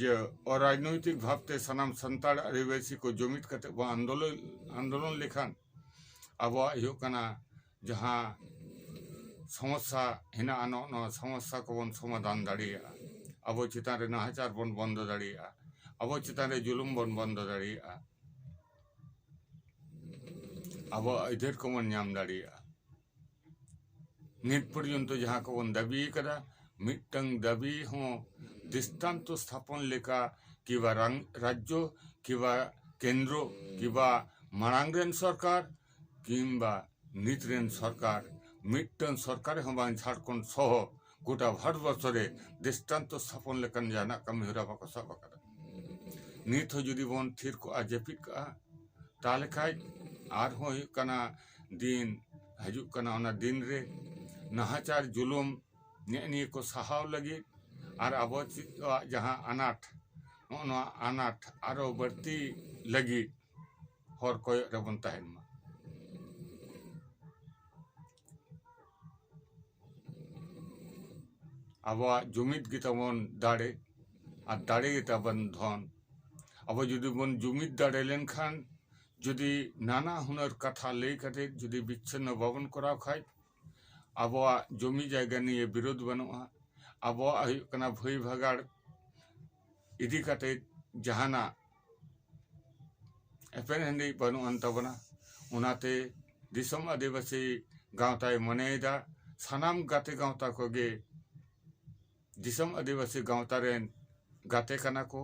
ᱡᱮ ᱚᱨᱟᱡᱽᱱᱳᱭᱛᱤᱠ ᱵᱷᱟᱵᱽ ᱛᱮ ᱥᱟᱱᱟᱢ ᱥᱟᱱᱛᱟᱲ ᱟᱹᱫᱤᱵᱟᱹᱥᱤ ᱠᱚ ᱡᱩᱢᱤᱫ ᱠᱟᱛᱮ ᱵᱚᱱ ᱟᱱᱫᱳᱞᱚᱱ ᱟᱱᱫᱳᱞᱚᱱ ᱞᱮᱠᱷᱟᱱ ᱟᱵᱚᱣᱟᱜ ᱦᱩᱭᱩᱜ ᱠᱟᱱᱟ ᱡᱟᱦᱟᱸ ᱥᱚᱢᱚᱥᱥᱟ ᱦᱮᱱᱟᱜᱼᱟ ᱱᱚᱜᱼᱚ ᱱᱚᱣᱟ ᱥᱚᱢᱚᱥᱥᱟ ᱠᱚᱵᱚᱱ ᱥᱚᱢᱟᱫᱷᱟᱱ ᱫᱟᱲᱮᱭᱟᱜᱼᱟ ᱟᱵᱚ ᱪᱮᱛᱟᱱ ᱨᱮ ᱱᱟᱦᱟᱪᱟᱨ ᱵᱚᱱ ᱵᱚᱱᱫᱚ ᱫᱟᱲᱮᱭᱟᱜᱼᱟ ᱟᱵᱚ ᱪᱮᱛᱟᱱ ᱨᱮ ᱡᱩᱞᱩᱢ ᱵᱚᱱ ᱵᱚᱱᱫᱚ ᱫᱟᱲᱮᱭᱟᱜᱼᱟ ᱟᱵᱚᱣᱟᱜ ᱟᱹᱭᱫᱟᱹᱨ ᱠᱚᱵᱚᱱ ᱧᱟᱢ ᱫᱟᱲᱮᱭᱟᱜᱼᱟ ᱱᱤᱛ ᱯᱚᱨᱡᱚᱱᱛᱚ ᱡᱟᱦᱟᱸ ᱠᱚᱵᱚᱱ ᱫᱟᱹᱵᱤ ᱟᱠᱟᱫᱟ ᱢᱤᱫᱴᱟᱝ ᱫᱟᱹᱵᱤ ᱦᱚᱸ ᱫᱨᱤᱥᱴᱟᱱᱛᱚ ᱥᱛᱷᱟᱯᱚᱱ ᱞᱮᱠᱟ ᱠᱤᱵᱟ ᱨᱟᱡᱽᱡᱚ ᱠᱤᱵᱟ ᱠᱮᱱᱫᱨᱚ ᱠᱤᱵᱟ ᱢᱟᱲᱟᱝ ᱨᱮᱱ ᱥᱚᱨᱠᱟᱨ ᱠᱤᱢᱵᱟ ᱱᱤᱛ ᱨᱮᱱ ᱥᱚᱨᱠᱟᱨ ᱢᱤᱫᱴᱟᱝ ᱥᱚᱨᱠᱟᱨ ᱦᱚᱸ ᱵᱟᱝ ᱡᱷᱟᱲᱠᱷᱚᱸᱰ ᱥᱚᱦᱚ ᱜᱚᱴᱟ ᱵᱷᱟᱨᱚᱛ ᱵᱚᱨᱥᱚ ᱨᱮ ᱫᱨᱤᱥᱴᱟᱱᱛᱚ ᱥᱛᱷᱟᱯᱚᱱ ᱞᱮᱠᱟᱱ ᱡᱟᱦᱟᱱᱟᱜ ᱠᱟᱹᱢᱤ ᱦᱚᱨᱟ ᱵᱟᱠᱚ ᱥᱟᱵ ᱟᱠᱟᱫᱟ ᱱᱤᱛ ᱦᱚᱸ ᱡᱩᱫᱤ ᱵᱚᱱ ᱛᱷᱤᱨ ᱠᱚᱜᱼᱟ ᱡᱟᱹᱯᱤᱫ ᱠᱟᱜᱼᱟ ᱛᱟᱦᱞᱮ ᱠᱷᱟᱱ ᱟᱨᱦᱚᱸ ᱦᱩᱭᱩᱜ ᱠᱟᱱᱟ ᱫᱤᱱ ᱦᱤᱡᱩᱜ ᱠᱟᱱᱟ ᱚᱱᱟ ᱫᱤᱱ ᱨᱮ ᱱᱟᱦᱟᱪᱟᱨ ᱡᱩᱞᱩᱢ ᱱᱮᱜᱼᱮ ᱱᱤᱭᱟᱹ ᱠᱚ ᱥᱟᱦᱟᱣ ᱞᱟᱹᱜᱤᱫ ᱟᱨ ᱟᱵᱚ ᱪᱮᱫ ᱠᱚᱣᱟᱜ ᱡᱟᱦᱟᱸ ᱟᱱᱟᱴ ᱱᱚᱜᱼᱚ ᱱᱚᱣᱟ ᱟᱱᱟᱴ ᱟᱨᱚ ᱵᱟᱹᱲᱛᱤ ᱞᱟᱹᱜᱤᱫ ᱦᱚᱨ ᱠᱚᱭᱚᱜ ᱨᱮᱵᱚᱱ ᱛᱟᱦᱮᱱ ᱢᱟ ᱟᱵᱚᱣᱟᱜ ᱡᱩᱢᱤᱫ ᱜᱮᱛᱟᱵᱚᱱ ᱫᱟᱲᱮ ᱟᱨ ᱫᱟᱲᱮ ᱜᱮᱛᱟᱵᱚᱱ ᱫᱷᱚᱱ ᱟᱵᱚ ᱡᱩᱫᱤ ᱵᱚᱱ ᱡᱩᱢᱤᱫ ᱫᱟᱲᱮ ᱞᱮᱱᱠᱷᱟᱱ ᱡᱩᱫᱤ ᱱᱟᱱᱟ ᱦᱩᱱᱟᱹᱨ ᱠᱟᱛᱷᱟ ᱞᱟᱹᱭ ᱠᱟᱛᱮ ᱡᱩᱫᱤ ᱵᱤᱪᱪᱷᱤᱱᱱᱚ ᱵᱟᱵᱚᱱ ᱠᱚᱨᱟᱣ ᱠᱷᱟᱱ ᱟᱵᱚᱣᱟᱜ ᱡᱩᱢᱤ ᱡᱟᱭᱜᱟ ᱱᱤᱭᱮ ᱵᱤᱨᱳᱫᱷ ᱵᱟᱹᱱᱩᱜᱼᱟ ᱟᱵᱚᱣᱟᱜ ᱦᱩᱭᱩᱜ ᱠᱟᱱᱟ ᱵᱷᱟᱹᱭ ᱵᱷᱟᱜᱟᱲ ᱤᱫᱤ ᱠᱟᱛᱮ ᱡᱟᱦᱟᱱᱟᱜ ᱮᱯᱮᱨ ᱦᱮᱸᱰᱮᱡ ᱵᱟᱹᱱᱩᱜ ᱟᱱ ᱛᱟᱵᱚᱱᱟ ᱚᱱᱟᱛᱮ ᱫᱤᱥᱚᱢ ᱟᱹᱫᱤᱵᱟᱹᱥᱤ ᱜᱟᱶᱛᱟᱭ ᱢᱚᱱᱮᱭᱮᱫᱟ ᱥᱟᱱᱟᱢ ᱜᱟᱛᱮ ᱜᱟᱶᱛᱟ ᱠᱚᱜᱮ ᱫᱤᱥᱚᱢ ᱟᱹᱫᱤᱵᱟᱹᱥᱤ ᱜᱟᱶᱛᱟ ᱨᱮᱱ ᱜᱟᱛᱮ ᱠᱟᱱᱟ ᱠᱚ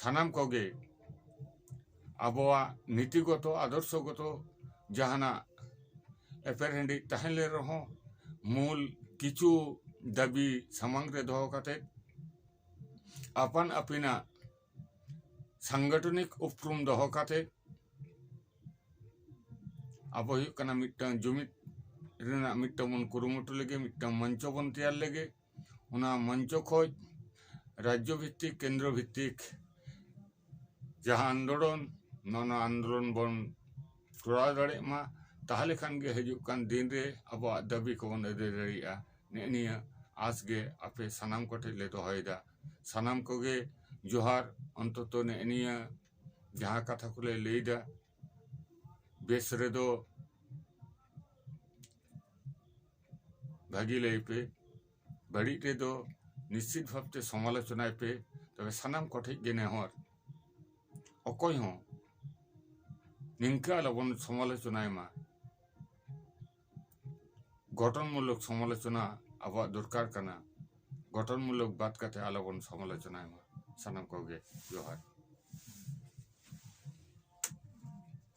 ᱥᱟᱱᱟᱢ ᱠᱚᱜᱮ ᱟᱵᱚᱣᱟᱜ ᱱᱤᱛᱤ ᱜᱚᱛᱚ ᱟᱫᱚᱨᱥᱚ ᱜᱚᱛᱚ ᱡᱟᱦᱟᱸᱱᱟᱜ ᱮᱯᱮᱨ ᱦᱮᱸᱰᱤᱡ ᱛᱟᱦᱮᱸ ᱞᱮᱱ ᱨᱮᱦᱚᱸ ᱢᱩᱞ ᱠᱤᱪᱷᱩ ᱫᱟᱹᱵᱤ ᱥᱟᱢᱟᱝ ᱨᱮ ᱫᱚᱦᱚ ᱠᱟᱛᱮ ᱟᱯᱟᱱ ᱟᱹᱯᱤᱱᱟᱜ ᱥᱟᱝᱜᱚᱴᱷᱚᱱᱤᱠ ᱩᱯᱨᱩᱢ ᱫᱚᱦᱚ ᱠᱟᱛᱮ ᱟᱵᱚ ᱦᱩᱭᱩᱜ ᱠᱟᱱᱟ ᱢᱤᱫᱴᱟᱝ ᱡᱩᱢᱤᱫ ᱨᱮᱱᱟᱜ ᱢᱤᱫᱴᱟᱝ ᱵᱚᱱ ᱠᱩᱨᱩᱢᱩᱴᱩ ᱞᱮᱜᱮ ᱢᱤᱫᱴᱟᱝ ᱢᱚᱧᱪᱚ ᱵᱚᱱ ᱛᱮᱭᱟᱨ ᱞᱮᱜᱮ ᱚᱱᱟ ᱢᱚᱧᱪᱚ ᱠᱷᱚᱱ ᱨᱟᱡᱽᱡᱚ ᱵᱷᱤᱛᱛᱤᱠ ᱠᱮᱱᱫᱨᱚ ᱵᱷᱤᱛᱛᱤᱠ ᱡᱟᱦᱟᱸ ᱟᱱᱫᱳᱞᱚᱱ ᱱᱟᱱᱟ ᱟᱱᱫᱳᱞᱚᱱ ᱵᱚᱱ ᱠᱚᱨᱟᱣ ᱫᱟᱲᱮᱜ ᱢᱟ ᱛᱟᱦᱚᱞᱮ ᱠᱷᱟᱱ ᱜᱮ ᱦᱤᱡᱩᱜ ᱠᱟᱱ ᱫᱤᱱ ᱨᱮ ᱟᱵᱚᱣᱟᱜ ᱫᱟᱹᱵᱤ ᱠᱚᱵᱚᱱ ᱟᱹᱫᱟᱹᱭ ᱫᱟᱲᱮᱭᱟᱜᱼᱟ ᱱᱮᱜᱼᱮ ᱱᱤᱭᱟᱹ ᱟᱸᱥ ᱜᱮ ᱟᱯᱮ ᱥᱟᱱᱟᱢ ᱠᱚᱴᱷᱮᱱ ᱞᱮ ᱫᱚᱦᱚᱭᱮᱫᱟ ᱥᱟᱱᱟᱢ ᱠᱚᱜᱮ ᱡᱚᱦᱟᱨ ᱚᱱᱛᱚᱛᱚ ᱱᱮᱜᱼᱮ ᱱᱤᱭᱟᱹ ᱡᱟᱦᱟᱸ ᱠᱟᱛᱷᱟ ᱠᱚᱞᱮ ᱞᱟᱹᱭᱮᱫᱟ ᱵᱮᱥ ᱨᱮᱫᱚ ᱵᱷᱟᱹᱜᱤ ᱞᱟᱹᱭ ᱯᱮ ᱵᱟᱹᱲᱤᱡ ᱨᱮᱫᱚ ᱱᱤᱥᱪᱤᱛ ᱵᱷᱟᱵᱛᱮ ᱥᱚᱢᱟᱞᱳᱪᱚᱱᱟᱭ ᱯᱮ ᱛᱚᱵᱮ ᱥᱟᱱᱟᱢ ᱠᱚᱴᱷᱮᱱ ᱜᱮ ᱱᱮᱦᱚᱨ ᱚᱠᱚᱭ ᱦᱚᱸ ᱱᱤᱝᱠᱟᱹ ᱟᱞᱚᱵᱚᱱ ᱥᱚᱢᱟᱞᱳᱪᱚᱱᱟᱭ ᱢᱟ ᱜᱚᱴᱷᱚᱱᱢᱩᱞᱚᱠ ᱥᱚᱢᱟᱞᱳᱪᱚᱱᱟ ᱟᱵᱚᱣᱟᱜ ᱫᱚᱨᱠᱟᱨ ᱠᱟᱱᱟ ᱜᱚᱴᱷᱚᱱᱢᱩᱞᱚᱠ ᱵᱟᱫ ᱠᱟᱛᱮ ᱟᱞᱚᱵᱚᱱ ᱥᱚᱢᱟᱞᱳᱪᱚᱱᱟᱭ ᱢᱟ ᱥᱟᱱᱟᱢ ᱠᱚᱜᱮ ᱡᱚᱦᱟᱨ